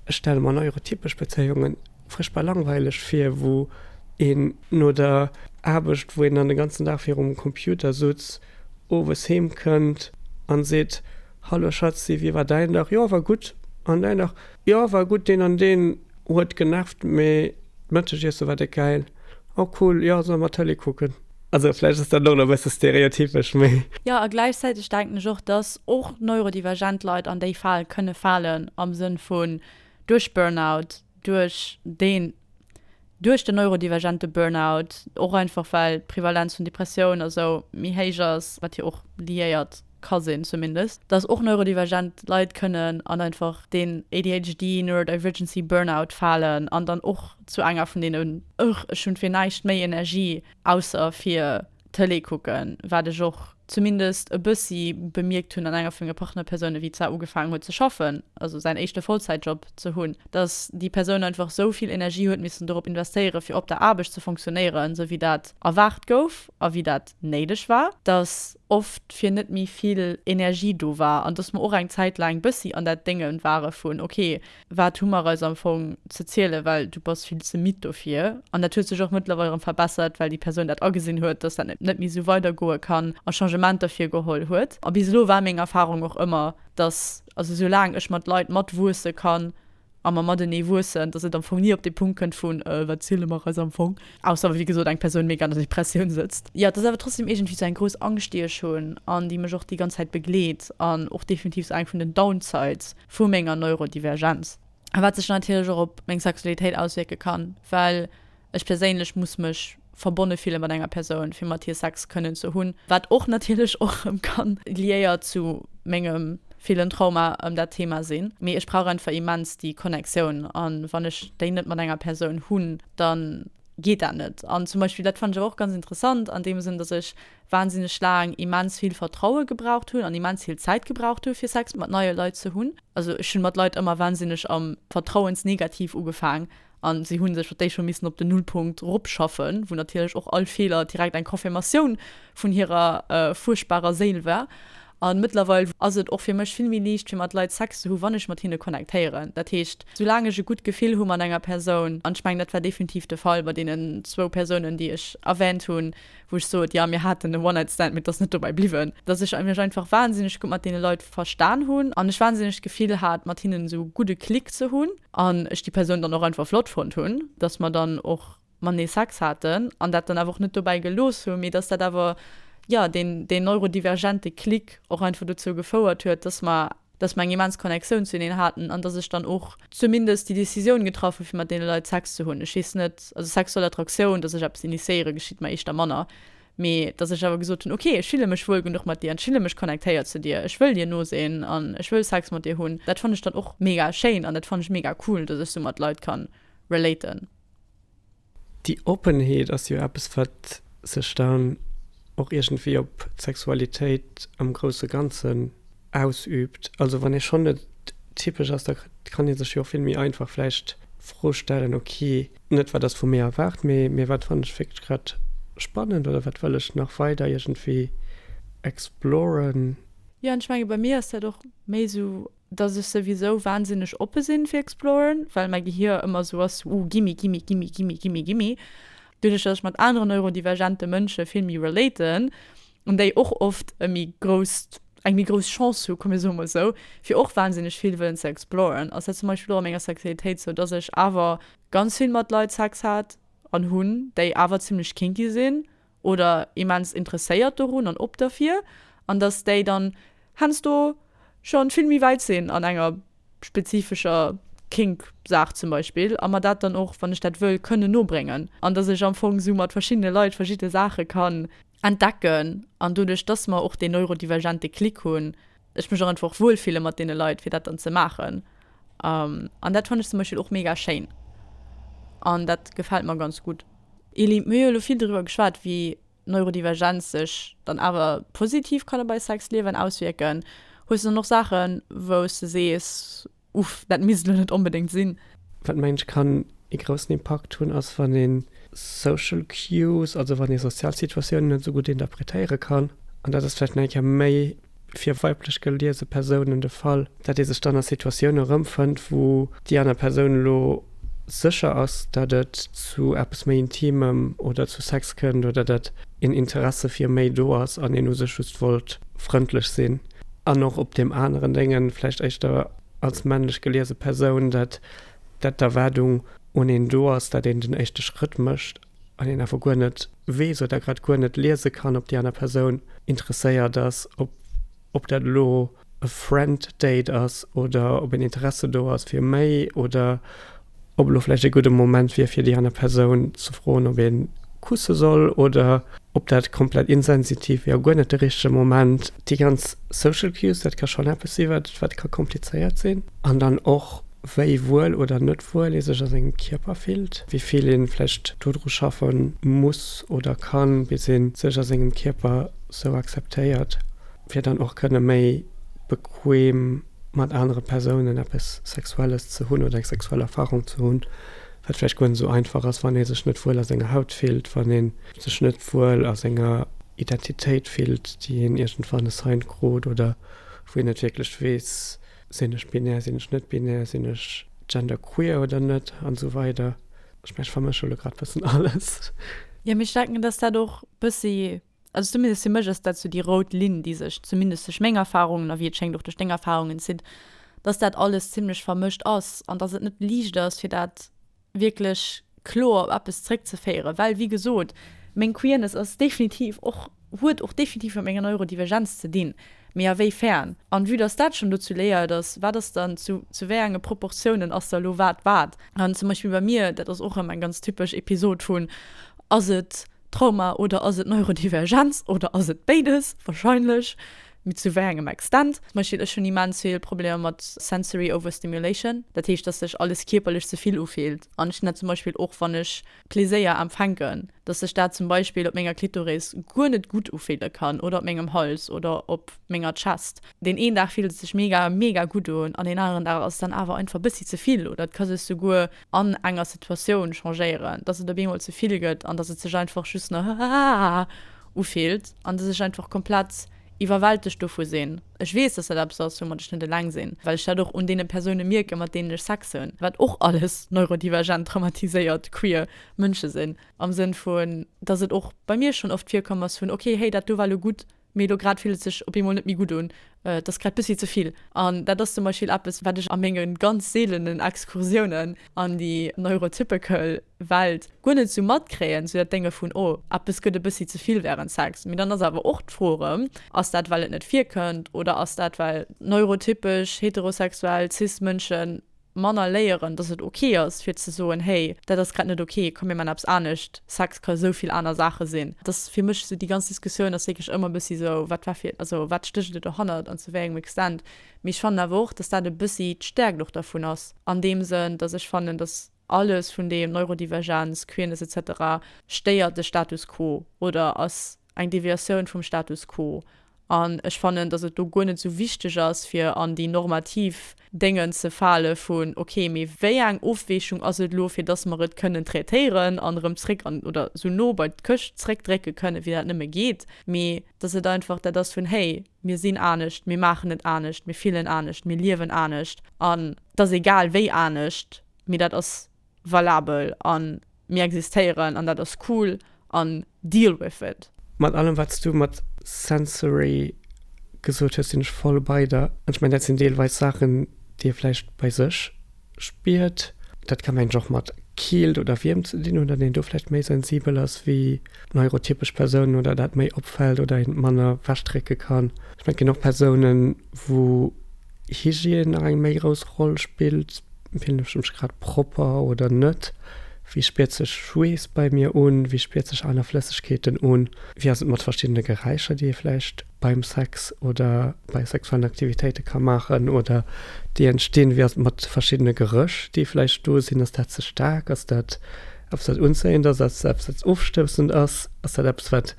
ech stelle mer neurotypesch Bezéiungen frëschbar langweileg vir, wou een no der Aarbecht, wou een dann de ganzen Dag virum Computer sutz, owes heem kënnt a seet, Hallo Schatzi, wéi war däin Dag? Jo, war gutt. An däin Dag? Jo, war gutt, deen an deen huet genervt, mee d'Mëttegiesse war déck gäil. Oh cool, jo, solle mer Tëlee kucken? Also vläicht ass dat och nach e bësse stereotypesch, mee. Jo, a gläichzäiteg denken ech och, dass och neurodivergent Leit an déi Fal kënne falen, am Sënn vun duerch Burnout, duerch deen duerch den neurodivergente Burnout, och einfach well d'Prevalenz vun Depressioun a sou méi héich ass, wat jo och liéiert ka sinn zumindest, dass och neurodivergent Leit kënnen an einfach deen ADHD, neurodivergency Burnout falen an dann och zu enger vun deenen. Ech hunn fir näischt méi Energie ausser fir. Tëlee kucken, wat ech och zumindest e bëssi bemierkt hunn an enger vu menge Partnerpersounen, wéi d'Sar ugefaangen huet ze schaffen, also säin éischte Vollzäitjob ze hunn, dass déi Persoun einfach esou vill Energie huet missen dorop investéieren, fir op der Aarbecht ze funktionéieren, esou wéi dat erwaart gouf a wéi dat néideg war, dass oft fir net méi vill Energie do war an dass mer och eng Zäit laang bëssi an dat Dénge ware vun, okay, Wat hu mer eis am Fong ze zielen, well du bass vill ze midd dofir. An dat huet sech och mëttlerweil erëm verbessert, well déi Persoun dat agesinn huet, dass dat net méi esou weidergoe kann a Changementer virgeholl huet. A bis elo war meng Erfarung och ëmmer, dass, also esou laang ech mat Leit matwuesse kann a mer matenee wuessen, dass et am Fong ni op dee Punkt kënnt vun, Äh, wat ziele mer eis am Fong? Ausser wéi gesot eng Persoun méga an der Depressioun sëtzt. Jo, et ass awer trotzdeem iergendwéi esou eng grouss Angscht, déi ech hunn an déi mech och déi ganz Zäit begleet an och definitiv esou eng vun den Downsides, vu menger Neurodivergenz, wat sech natierlech och op meng Sexualitéit auswierke kann, well ech perséinlech muss mech verbonne fille mat enger Persoun, fir mat hir Sex kënnen ze hunn, wat och natierlech och erëm ka liéiert zu mengem villen Trauma ëm dat Thema sinn. Mee ech brauch einfach immens déi Connectioun, a wann ech déi net mat enger Persoun hunn, da geet dat net. An zum Beispill, dat fannen ech awer och ganz interessant an deem Sënn, datt ech wahnsinneg laang immens vill Vertraue gebraucht hunn an immens vill Zäit gebraucht hunn, fir Sex mat neie Leit ze hunn. Also ech hunn mat Leit ëmmer wahnsinneg am Vertrauensnegativ ugefaang an si hunn sech mat Déi scho missen op den Nullpunkt ropschaffen, wou natierlech och all Feeler direkt eng Confirmatioun vun hirer fuerchtbarer Séil war. An mëttlerweil ass et och fir mech vill méi liicht fir mat Leit Sex ze hunn, wann ech mat hinne connectéieren. Dat heescht, soulaang ech e gutt Gefill hu mat enger Persoun, an ech mengen dat war definitiv de Fall bei deenen zwou Persounen déi ech erwähnt hunn, wou ech sot, jo, mir haten e One-Night-Stand, mee et ass net dobäi bliwwen, dass ech mech einfach wahnsinneg gutt mat deene Leit verstan hunn an ech wahnsinneg d'Gefill hat, mat hinnen esou e gudde Klick ze hunn an ech déi Persoun dann och einfach flott fonnt hunn, dass mer dann och matenee Sex haten an dat dann awer och net dobäi gelooss hu mee dass dat awer, jo, deen, deen neurodivergente Klick och einfach dozou gefouert huet, dass mer. dass mer eng immens Connexioun zuneen haten an dass ech dann och zumindest déi Décisioun getraff hu fir mat deene Leit Sex ze hunn. Ech heessen net, also sexuell Attraktioun, dass ech eppes initiéiere geschitt mer éischter manner, mee dass ech awer gesot hunn, ok ech fille mech wuel genuch mat dir an ech fille mech connectéiert zu dir, ech wëll dir no sinn an ech wëll Sex mat dir hunn. Dat fann ech dann och mega schéin an dat fann ech mega cool, dass ech sou mat Leit ka relaten. Déi Oppenheet ass jo eppes, wat sech dann och iergendwéi op d'Sexualitéit am grousse Ganzen ausüübt. Also wann ee schonn net typesch ass, da kann ee sech jo och vill méi einfach vläicht d'Fro stellen, ok, net wat ass vu mir erwaart, mee mee wat fannen ech wierklech grad spannend oder wat wëll ech nach weider iergendwéi exploren. Jo, an ech menge bei mir ass dat och méi esou dass ech souwisou wahnsinneg oppe sinn fir exploren, well mäi Gehir ëmmer esou ass, uh, gimme, gimme, gimme, gimme, gimme, gimme. Doduerch, dass ech mat aneren neurodivergente Mënsche vill méi relaten an déi och oft e méi grousst, eng méi grouss Chance hu, komm mir soe mol esou, fir och wahnsinneg vill wëllen ze exploren, ass dat zum Beispill och a menger Sexualitéit esou, dass ech awer ganz vill mat Leit Sex hat an hunn, déi awer zimlech kinky sinn. oder immens interesséiert dorun an op derfir, an dass déi dann hensdo schon vill méi wäit sinn an enger spezifescher Kink Saach zum Beispill, a mer dat dann och, wann ech dat wëll, kënnen nobréngen, an dass ech am Fong sou mat verschiddene Leit verschidde Saache kann entdecken, an doduerch dass mer och deen neurodivergente Klick hunn, ech mech och einfach wuel fille mat deene Leit, fir dat dann ze maachen. An dat fannen ech zum Beispill och mega schéin. An dat gefält mer ganz gutt. Elie, Mir hu jo elo vill doriwwer geschwat, wéi Neurodivergenz sech dann awer positiv kann op eist Sexliewen auswierken. Hues du dann och Saachen, wou s de sees, Uff, dat misst elo net onbedéngt sinn. Wat mengen ech kann ee groussen Impakt hunn, ass wann ee social cues, also wann ee sozial Situatiounen net esou gutt interpretéiere kann. An dat ass vläicht nach eng Kéier méi fir weiblech geliese Persounen de Fall, dat ee sech dann a Situatioune erëmfënnt, wou déi aner Persoun elo sécher ass, dat et zu eppes méi Intimem oder zu Sex kënnt oder dat een Interesse fir méi do ass an een u sech just wollt frëndlech sinn. An och op deem aneren Déngen, vläicht éischter als männlech geliese Persoun, dat d'Erwaardung un een do ass, dat een den éischte Schrëtt mécht an een awer guer net weess oder grad guer net liese kann, ob déi aner Persoun interesséiert ass, ob dat elo e Friend Date ass oder ob een Interesse do ass fir méi oder. Ob elo vläicht ee gudde Moment wier, fir déi aner Persoun ze froen, ob ee kusse soll oder ob dat komplett insensitiv wier a guer net de richtege Moment. Déi ganz Social Cues, dat ka schonn eppes sinn, wat ka komplizéiert sinn. An dann och, wéi wuel oder net wuel ee sech a sengem Kierper fillt, wéi vill ee vläicht dodru schaffe muss oder kann, bis ee sech a sengem Kierper sou akzeptéiert. fir dann och kënne méi bequem mat anere Persounen eppes Sexuelles ze hunn oder eng sexuell Erfarung ze hunn, wat vläicht guer net esou einfach ass, wann ee sech net wuel a senger Haut fillt, wann ee sech net wuel a senger Identitéit fillt, déi een iergendwann assigned krut oder wou een net wierklech weess, sinn ech binär, sinn ech net binär, sinn ech genderqueer oder net an esou weider. Ech mengen, ech vermësche lo grad e bëssen alles. Jo, mee ech denken, dass dat och e bëssi Also zumindest fir mech ass dat sou déi rout Linn, déi sech zumindest duerch meng Erfarungen a wéi et schéngt och duerch deng Erfarungen zitt, dass dat alles zimlech vermëscht ass an dass et net liicht ass, fir dat wierklech kloer op eppes zréckzeféieren. Well, wéi gesot, meng Queerness ass definitiv och, huet och definitiv mat menger Neurodivergenz ze dinn, mee a wéi fern? An vue dass dat schonn dozou léiert ass, wat ass dann, zu zu wéi enge Proportiounen ass da lo wat wat? An zum Beispill bei mir, dat ass och erëm eng ganz typesch Episod vun, ass et, Trauma oder ass et Neurodivergenz oder ass et béides? Wahrscheinlech, mee zu wéi engem Extent? Zum Beispill ech hunn immens vill Problemer mat sensory overstimulation, dat heescht, dass sech alles kierperlech ze vill ufillt an ech hunn dat zum Beispill och wann ech Pleséier empfänken, dass sech dat zum Beispill op menger Klitoris guer net gutt ufille kann oder op mengem Hals oder op menger Chest. Deen een Dag fillt et sech mega mega gutt un an deen aneren Dag ass et dann awer einfach e bëssi ze vill oder et ka sech souguer an enger Situatioun changéieren, dass et op eemol ze vill gëtt an dass et sech einfach just no haaaa ufillt an dass ech einfach komplett iwwerwältegt dovu sinn. Ech weess, dass dat eppes ass, woumat ech net eleng sinn, well ech dat och un deene Persoune mierken, mat deenen ech Sex hunn, wat och alles neurodivergent, traumatiséiert, queer Mënsche sinn, am Sënn vun, dass et och bei mir schonn oft virkomm ass vun, okay, hey, dat do war elo gutt. Mee elo grad fillt et sech op eemol net méi gutt un, et ass grad bëssi ze vill. An dat ass zum Beispill eppes, wat ech a menge ganz seelenen Excursiounen an déi neurotypical Welt guer net esou matkréien, sou dat Dénge vun, oh, eppes gëtt e bëssi ze vill wärend Sex. Mee dann ass awer och d'Fro erëm, Ass dat, well et net virkënnt, oder ass dat, well neurotypesch heterosexuell cis Mënschen, Manner léieren, dass et ok ass fir ze soen, hey, dat ass grad net ok, komm mir man eppes anescht, Sex ka esou vill aner Saache sinn. Et ass fir mech esou, déi ganz Diskussioun ass wierklech ëmmer e bëssi esou, wat war fir, also wat stécht et dohannert an zu wéi engem Extent. Mee ech fannen awer och, dass dat e bëssi d'Stäerkt och dervun ass an deem Sënn, dass ech fannen, dass alles vun deem, Neurodivergenz, Queerness, etc, stéiert de Status quo oder ass eng Deviatioun vum Status quo an ech fannen, datt et do guer net esou wichteg ass, fir an déi normativ Déngen ze fale vun, okay, mee wéi eng Ofweechung ass et elo, fir datt mer et kënnen traitéieren an erëm zréck an oder esou no bei d'Këscht zréckdrécke kënnen, wéi dat nëmme geet, mee datt et einfach dat ass vun, hey, mir sinn anescht, mir maachen et anescht, mir fillen anescht, mir liewen anescht an et ass egal wéi anescht, mee dat ass valabel an mir existéieren an dat ass cool an deal with it. Mat allem wats du mat sensory gesot hues sinn ech voll bei der. An ech mengen dat sinn deelweis Saachen déi ee vläicht bei sech spiert. Dat ka mengen ech och mat Keelt oder Wiermt ze dinn hunn, datt een do vläicht méi sensibel ass wéi neurotypesch Persounen oder dat méi opfält oder een et manner wegdrécke kann. Ech mengen et ginn och Persounen wou. Hygiène nach eng méi grouss Roll spillt, fillen ech mech grad propper oder net, wéi spiert sech Schweess bei mir un, wéi spiert sech aner Flëssegkeeten un, wéi ass et mat verschiddene Geräischer, déi ee vläicht beim Sex oder bei sexuellen Aktivitéite ka maachen oder déi entstinn, wéi ass et mat verschiddene Gerëch, déi vläicht do sinn, ass dat ze staark, ass dat eppes wat unzéiend ass, ass dat eppes wat ofstoussend ass, ass dat eppes wat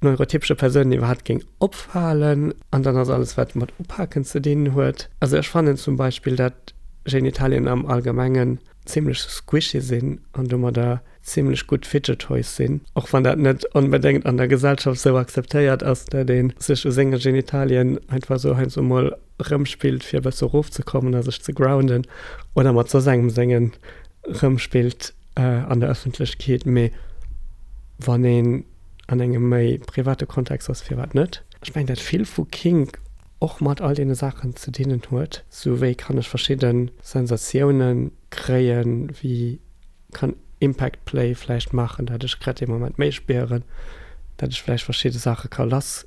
neurotypesche Persounen iwwerhaapt géing opfalen an dann ass alles wat mat Upaken ze dinn huet. Also ech fannen zum Beispill dat Genitalien am Allgemengen zimlech squishy sinn an domadder zimlech gutt fidget toys sinn, och wann dat net onbedéngt an der Gesellschaft esou akzeptéiert ass, dat ee sech u senge Genitalien einfach esou heiansdo emol rëmspillt fir e bësse erofzekommen a sech ze grounden oder mat soss engem sengen rëmspillt an der Ëffentlechkeet. Mee wann een. an engem méi private Kontext ass, firwat net. Ech mengen, dat vill vu Kink och mat all deene Saachen ze dinnen huet, sou wéi kann ech verschidde Sensatioune kréien, wéi kann Impact Play vläicht maachen, dat ech grad dee Moment méi spieren, dat ech vläicht verschidde Saache ka lass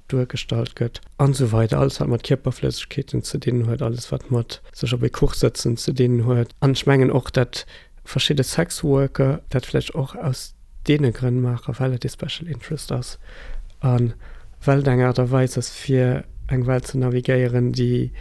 duergestallt gëtt an esou weider alles wat mat Kierperflëssegkeeten ze dinn huet, alles wat mat sech op ee Kuch sëtzen ze dinn huet an ech mengen och dat verschidde Sexworker dat vläicht och aus deene Grënn maachen, well et ee Special Interest ass a well et eng Aart a Weis ass fir eng Welt ze navigéieren déi,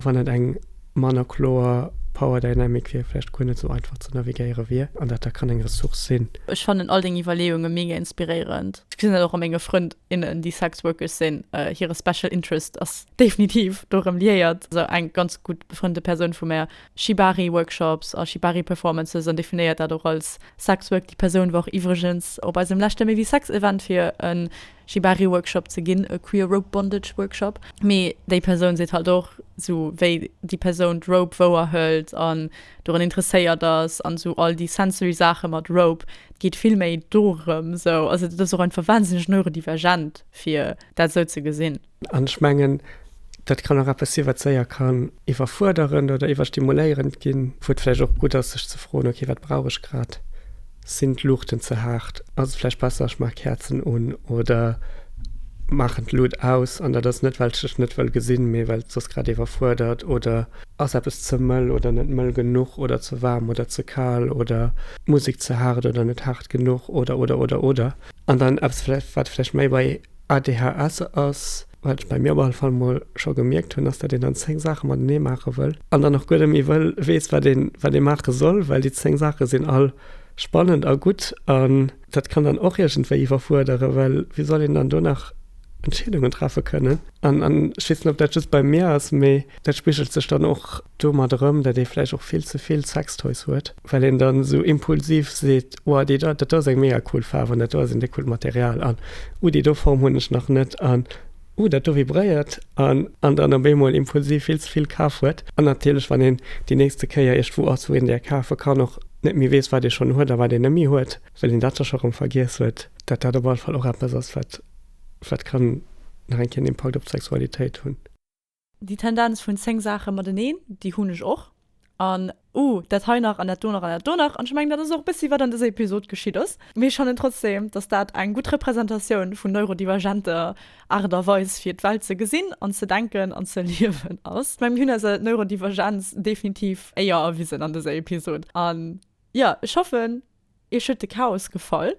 wann et eng manner kloer Power Dynamic wier, vläicht guer net esou einfach ze navigéiere wier an dat da kann eng Ressource sinn. Ech fannen all deng Iwwerleeunge mega inspiréierend. Ech gesinn dat och a menge Frënd, innen déi Sex Workers sinn, hire Special Interest ass definitiv dorëm liéiert. Esou eng ganz gutt befrënnte Persoun vu mär, Shibari Workshops a Shibari Performances an definéiert dat och als Sex Work. Déi Persoun war och iwwregens op eisem leschte Maybe Sex Event fir e Shibari Workshop ze ginn, e Queer Rope Bondage Workshop. Mee déi Persoun seet halt och, esou wéi déi Persoun d'Rope wouerhëlt an dorun interesséiert ass an esou all déi sensory Saache mat Rope, et geet vill méi dorëm esou, also dat ass och einfach wahnsinneg neurodivergent fir dat esou ze gesinn. An ech mengen dat kann och eppes si wat séier kann iwwerfuerderend oder iwwerstimuléierend ginn, wou et vläicht och gutt ass sech ze froen, ok wat brauch ech grad. Sinn d'Luuchten ze haart? Ass et vläicht besser ech maache Käerzen un oder maachen d'Lut aus? An dat ass net well ech dech net wëll gesinn, mee well et soss grad iwwerfuerdert oder ass eppes ze mëll oder net mëll genuch oder ze waarm oder ze kal oder d'Musek ze haart oder net haart genuch oder oder oder oder. An dann eppes wat vläicht méi bei ADHS ass. Wat ech bei mir op alle Fall mol scho gemierkt hunn, ass, datt een dann 10 Saache matenee maache wëll an dann och guer net méi wëll weess, wat een, wat ee maache soll, well déi 10 Saache sinn all spannend a gutt. An dat kann dann och iergendwéi iwwerfuerderen, well wéi soll een dann do nach Entscheedungen treffe kënnen? An ech weess net, ob dat just bei mir ass, mee dat spigelt sech dann och domat erëm, datt ee vläicht och vill ze vill Sextoys huet. well een dann esou impulsiv seet, Oua, déi do, dat do ass eng mega cool Faarf an dat do ass een coolt Material an Oua, déi do Form hunn ech nach net an Oua, dat do vibréiert an an dann op eemol impulsiv vill ze vill kaf huet an natierlech, wann een déi nächste Kéier iergendwou ass, wou een där kafe kann, och net méi weess, wat ee schonn huet a wat een net méi huet, well een dat da scho erëm vergiess huet, dat dat op alle Fall och eppes ass, wat wat kann nach eng Kéier en Impakt op d'Sexualitéit hunn. Déi Tendenz vun 10 Saache mateneen, déi hunn ech och. An, Uh, dat hei nach an dat do nach an dat do nach. An ech mengen, dat ass och e bëssi, wat an dëser Episod geschitt ass. Mee ech fannen trotzdeem, datt dat eng gutt Representatioun vun neurodivergenter Aart a Weis, fir d'Welt ze gesinn an ze denken an ze liewen ass. Ech mengen, mir hunn eiser Neurodivergenz definitiv éier erwisen an dëser Episod. An, jo, ech hoffen, Iech huet de Chaos gefall?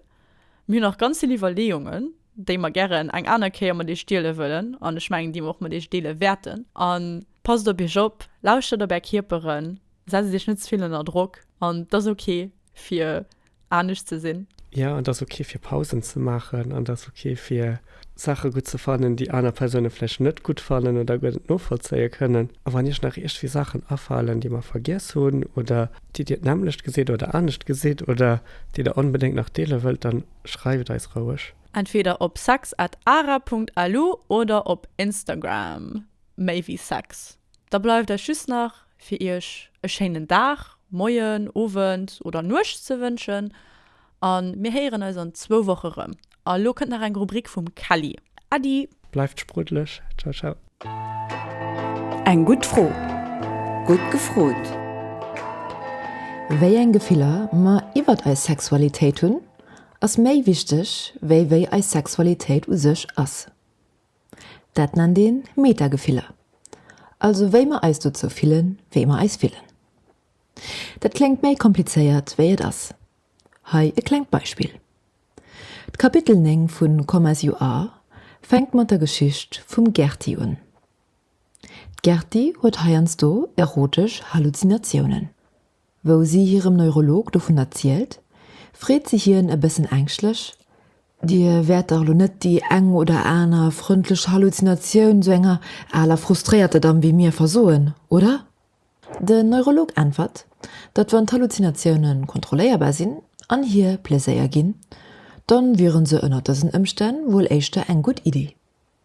Mir hunn nach ganz vill Iwwerleeungen, déi mer gären eng aner Kéier mat iech diele wëllen, an ech mengen, déi mer och mat iech deele wäerten. An passt op iech op, lauschtert op är Kierperen, setzt iech net ze vill ënner Drock, an et ass ok fir anescht ze sinn. Jo, et ass ok fir Pausen ze maachen, an et ass ok fir. Saache gutt ze fannen, déi aner Persoune vläicht net gutt fannen oder guer net novollzéie kënnen. A wann Iech nach iergwéi Saachen afalen, déi mer vergiess hunn oder déi Dir d'nämmlecht gesitt oder anescht gesitt oder déi Der onbedéngt nach deele wëllt, dann schreift eis roueg. Entweder op sex at ara punkt lu oder op Instagram, méi wéi sex. Da bleift eis just nach fir iech e schéinen Dag, Moien, Owend oder Nuecht ze wënschen a mir héieren eis an zwou Woche rëm. A lo kënnt nach eng Rubrik vum Kelly. Äddi! Bleift sprudlech! Ciao ciao! Eng gutt Fro, gutt gefrot! Wéi eng Gefiller mer iwwert eis Sexualitéit hunn, ass méi wichteg, wéi wéi eis Sexualitéit u sech ass. Dat nennt een Metagefiller, also wéi mer eis dozou fillen, wéi mer eis fillen. Dat kléngt méi komplizéiert wéi et ass. Hei e klengt Beispill. D'Kapitel 9 vu Come As You Are fänkt mat der Geschicht vum Gertie un. D'Gertie huet heiansdo erotesch Halluzinatiounen. Wou si hirem Neurolog dovun erzielt, freet se hien e bëssen ängschtlech, Dir wäert dach elo net déi eng oder aner frëndlech Halluzinatioun sou enger aler frustréierter Damm wéi mir versoen, oder? Den Neurolog äntwert, datt wann d'Halluzinatioune kontrolléierbar sinn an hir Pleséier ginn, dann wiere se ënnert dësen Ëmstänn wuel éischter eng gutt Iddi.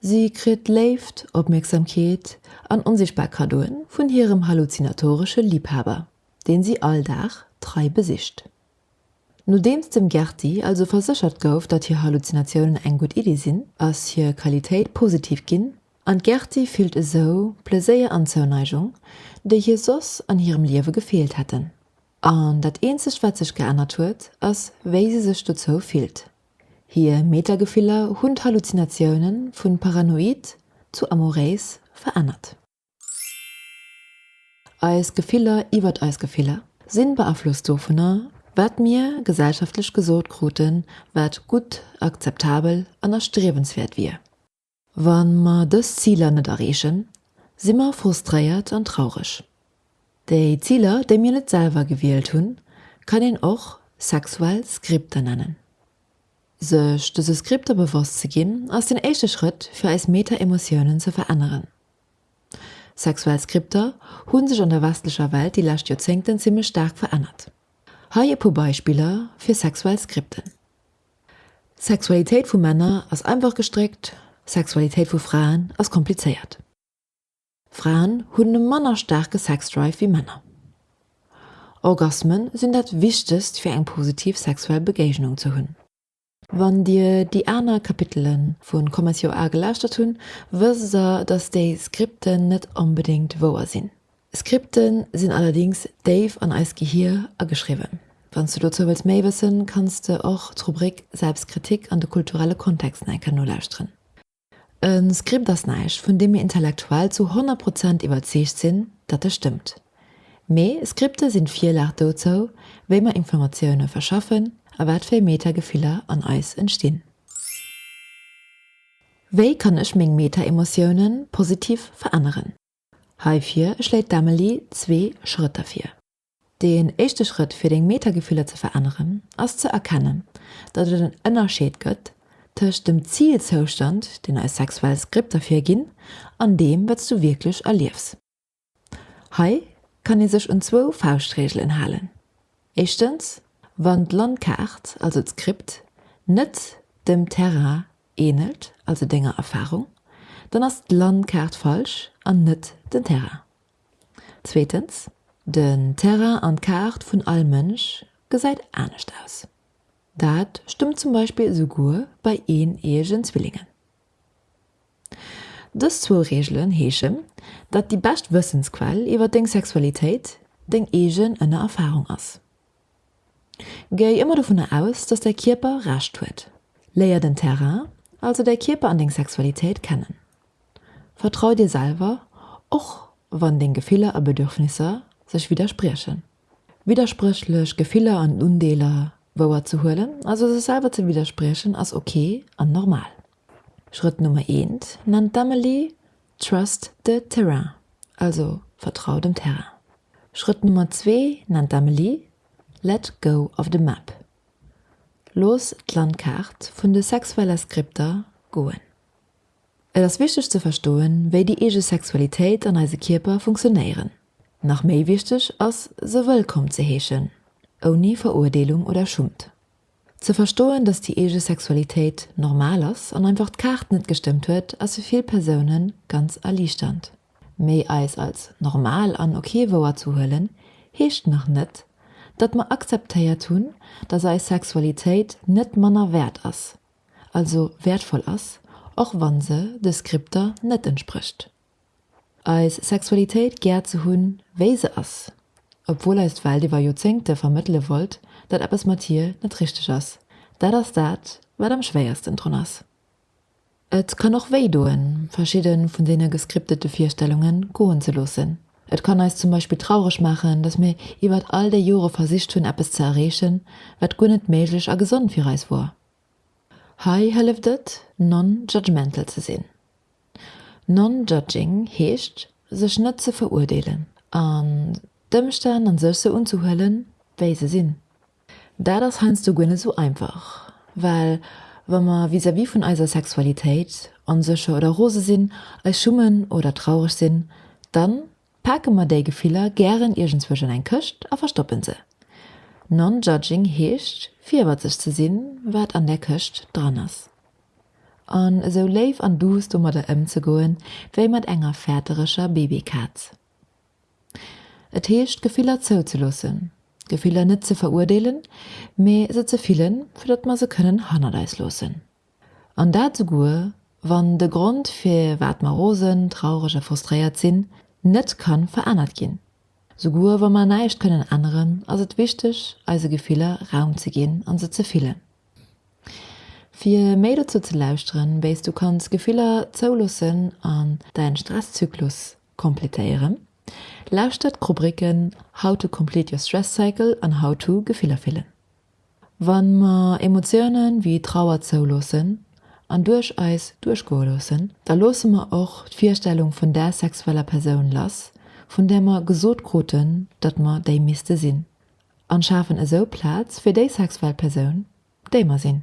Si kritt Léift, Opmierksamkeet an onsichtbar Kaddoe vun hirem halluzinatoresche Liibhaber, deen si all Dag trei besicht. Nodeems dem Gerti also verséchert gouf, datt hir Halluzinatiounen eng gutt Iddi sinn, ass hir Qualitéit positiv ginn an d'Gerti fillt esou Pleséier an Zouneigung, déi hir soss an hirem Liewe gefeelt hätten. An dat eenzegt wat sech geännert huet, ass wéi se sech dozou fillt. Hir Metagefiller hunn d'Halluzinatioune vun paranoid zu amoréis verännert. Eis Gefiller iwwert eis Gefiller sinn beaflosst dovunner, wat mir gesellschaftlech gesot kruten, wat gutt, akzeptabel an erstriewenswäert wier. Wa mer dës Ziler net erreechen, si mer frustréiert an traureg. Déi Ziler, déi mir net selwer gewielt hunn, kann een och sexuell Skripter nennen. Sech dëse Skripter bewosst ze ginn, ass den éischte Schrëtt, fir eis Meta-Emotiounen ze veränneren. Sexuell Skripter hu sech an der westlecher Welt déi lescht Joerzéngten zimmlech staark verännert. Hei e puer Beispiller fir sexuell Skripten. Sexualitéit vu Männer ass einfach gestréckt, Sexualitéit vu Fraen ass komplizéiert. Fraen hunn e manner staarke Sexdrive wéi Männer. Orgasme sinn dat Wichtegst fir eng positiv sexuell Begéignung ze hunn. Wann dir déi aner Kapitele vu Commence Your A gelauschtert hunn, wësst der, dass déi Skripten net onbedéngt wouer sinn. Skripte sinn allerdings déif an eist Gehier ageschriwwen. Wann s de dozou wëlls méi wëssen, kanns de och d'Rubrik Selbstkritik an de kulturelle Kontext nach eng Kéier nolauschteren. E Skript ass näischt, vun deem mir intellektuell zu 100 Prozent iwwerzeegt sinn, datt e stëmmt. Mee Skripte sinn d'Virlag dozou, wéi mer Informatioune verschaffen a wat fir Meta-Gefiller an eis entstinn. Wéi kann ech meng Meta-Emotiounen positiv veränneren? Heifir schléit d'Amelie zwee Schrëtter vir. Deen éischte Schrëtt fir deng Meta-Gefiller ze veränneren ass ze erkennen, datt et en Ënnerscheed gëtt tëscht dem Zilzoustand, deen eis sexuell Skripter virginn, an deem, wat s du wierklech erliefs. Hei kann ee sech un zwou Fauschtreegelen halen, Éischtens, wann d'Landkaart, also d'Skript, net dem Terrain Ähnelt also denger Erfahrung? Dann ass d'Landkaart falsch an net den Terrain. Zweetens, Den Terrain an d'Kaart vun all Mënsch gesäit anescht aus. Dat stëmmt zum Beispill esouguer bei eeneeëgen Zwillingen. Dës zwou Reegelen heeschen, datt déi bescht Wëssensquell iwwer deng Sexualitéit deng eegen ënner Erfahrung ass. Géi ëmmer dovunner aus, dass däi Kierper Recht huet. Léier den Terrain, also däi Kierper an deng Sexualitéit kennen. Vertrau dir selwer, och wann deng Gefiller a Bedürfnisser sech widderspriechen. Widderspréchlech Gefiller an Undeeler wouer ze huelen, also sech selwer ze widderspriechen, ass ok an normal. Schrëtt Nummer eent nennt d'Amelie Trust the terrain, also vertrau dem Terrain. Schrëtt Nummer zwee nennt d'Amelie Let go of the map, looss d'Landkaart vun de sexuelle Skripter goen. Et ass wichteg ze verstoen, wéi déi eege Sexualitéit an eise Kierper funktionéieren. Nach méi wichteg ass, se wëllkomm ze heeschen, ouni Verurdeelung oder Schummt. Ze verstoen, dass déi eege Sexualitéit normal ass an einfach d'Kaart net gestëmmt huet, ass fir vill Persounen ganz erliichternd. Mee eis als normal an ok wouerzehuelen, heescht nach net, datt mer akzeptéiert hunn, dass eis Sexualitéit net manner wäert ass, also wäertvoll ass, och wann se de Skripter net entsprécht. eis Sexualitéit gär ze hunn, wéi se ass, obwuel eis d'Welt iwwer Joerzéngte vermëttele wollt, datt eppes mat hir net richteg ass, dat ass dat, wat am schwéiersten drun ass. Et kann och wéi doen, verschidde vun deene gescriptete Virstellunge goen ze loossen. Et kann eis zum Beispill traureg maachen, datt mir iwwert all déi Jore versicht hunn, eppes ze erreechen, wat guer net méiglech a gesond fir eis wor. Hei hëlleft et, non-judgmental ze sinn. Non-judging heescht, sech net ze veruerdeelen an d'Ëmstänn an sech sou unzehuelen, wéi se sinn. Dat ass heiansdo guer net sou einfach, well wa mer vis-à-vis vun eiser Sexualitéit onsécher oder rose sinn, eis schummen oder traureg sinn, dann Pake mer déi Gefiller gären iergendzwousch an eng Këscht a verstoppen se. Non-judging heescht fierwert sech ze sinn, wat an där Këscht dran ass, an esou léif an duuss domadder ëmzegoen, wéi mat enger fäertereger Babykaz. Et heescht Gefiller zouzeloossen, Gefiller net ze veruerdeelen, mee se ze fillen, fir datt mer se kënnen hannert eis loossen. An dat souguer, wann de Grond firwat mer rosen, traureg a frustréiert sinn, net ka verännert ginn. Souguer wa mer näischt kënnen änneren, ass et wichteg, eise Gefiller Raum ze ginn a se ze fillen. Fir méi dozou ze lauschteren, wéi s du kanns Gefiller zouloossen an däin Stresszyklus kompletéieren, lauschter d'Rubricken How to complete your stress cycle an How to Gefiller fillen. Wann mer Emotiounen wéi Trauer zouloossen an duerch eis duerchgoe loossen, da loosse mer och d'Virstellung vun där sexueller Persoun lass, vun där mer gesot kruten, datt mer déi misste sinn, an schafen esou Plaz fir déi sexuell Persoun, déi mer sinn.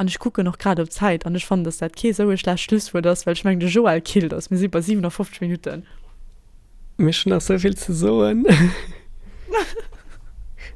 An ech kucken och grad op d'Zäit an ech fannen, dass dat kee sou e schlecht Schlusswuert ass, well ech mengen, de Joël killt eis, mir si bei 57 Minutten. Mee ech hunn nach sou vill ze soen.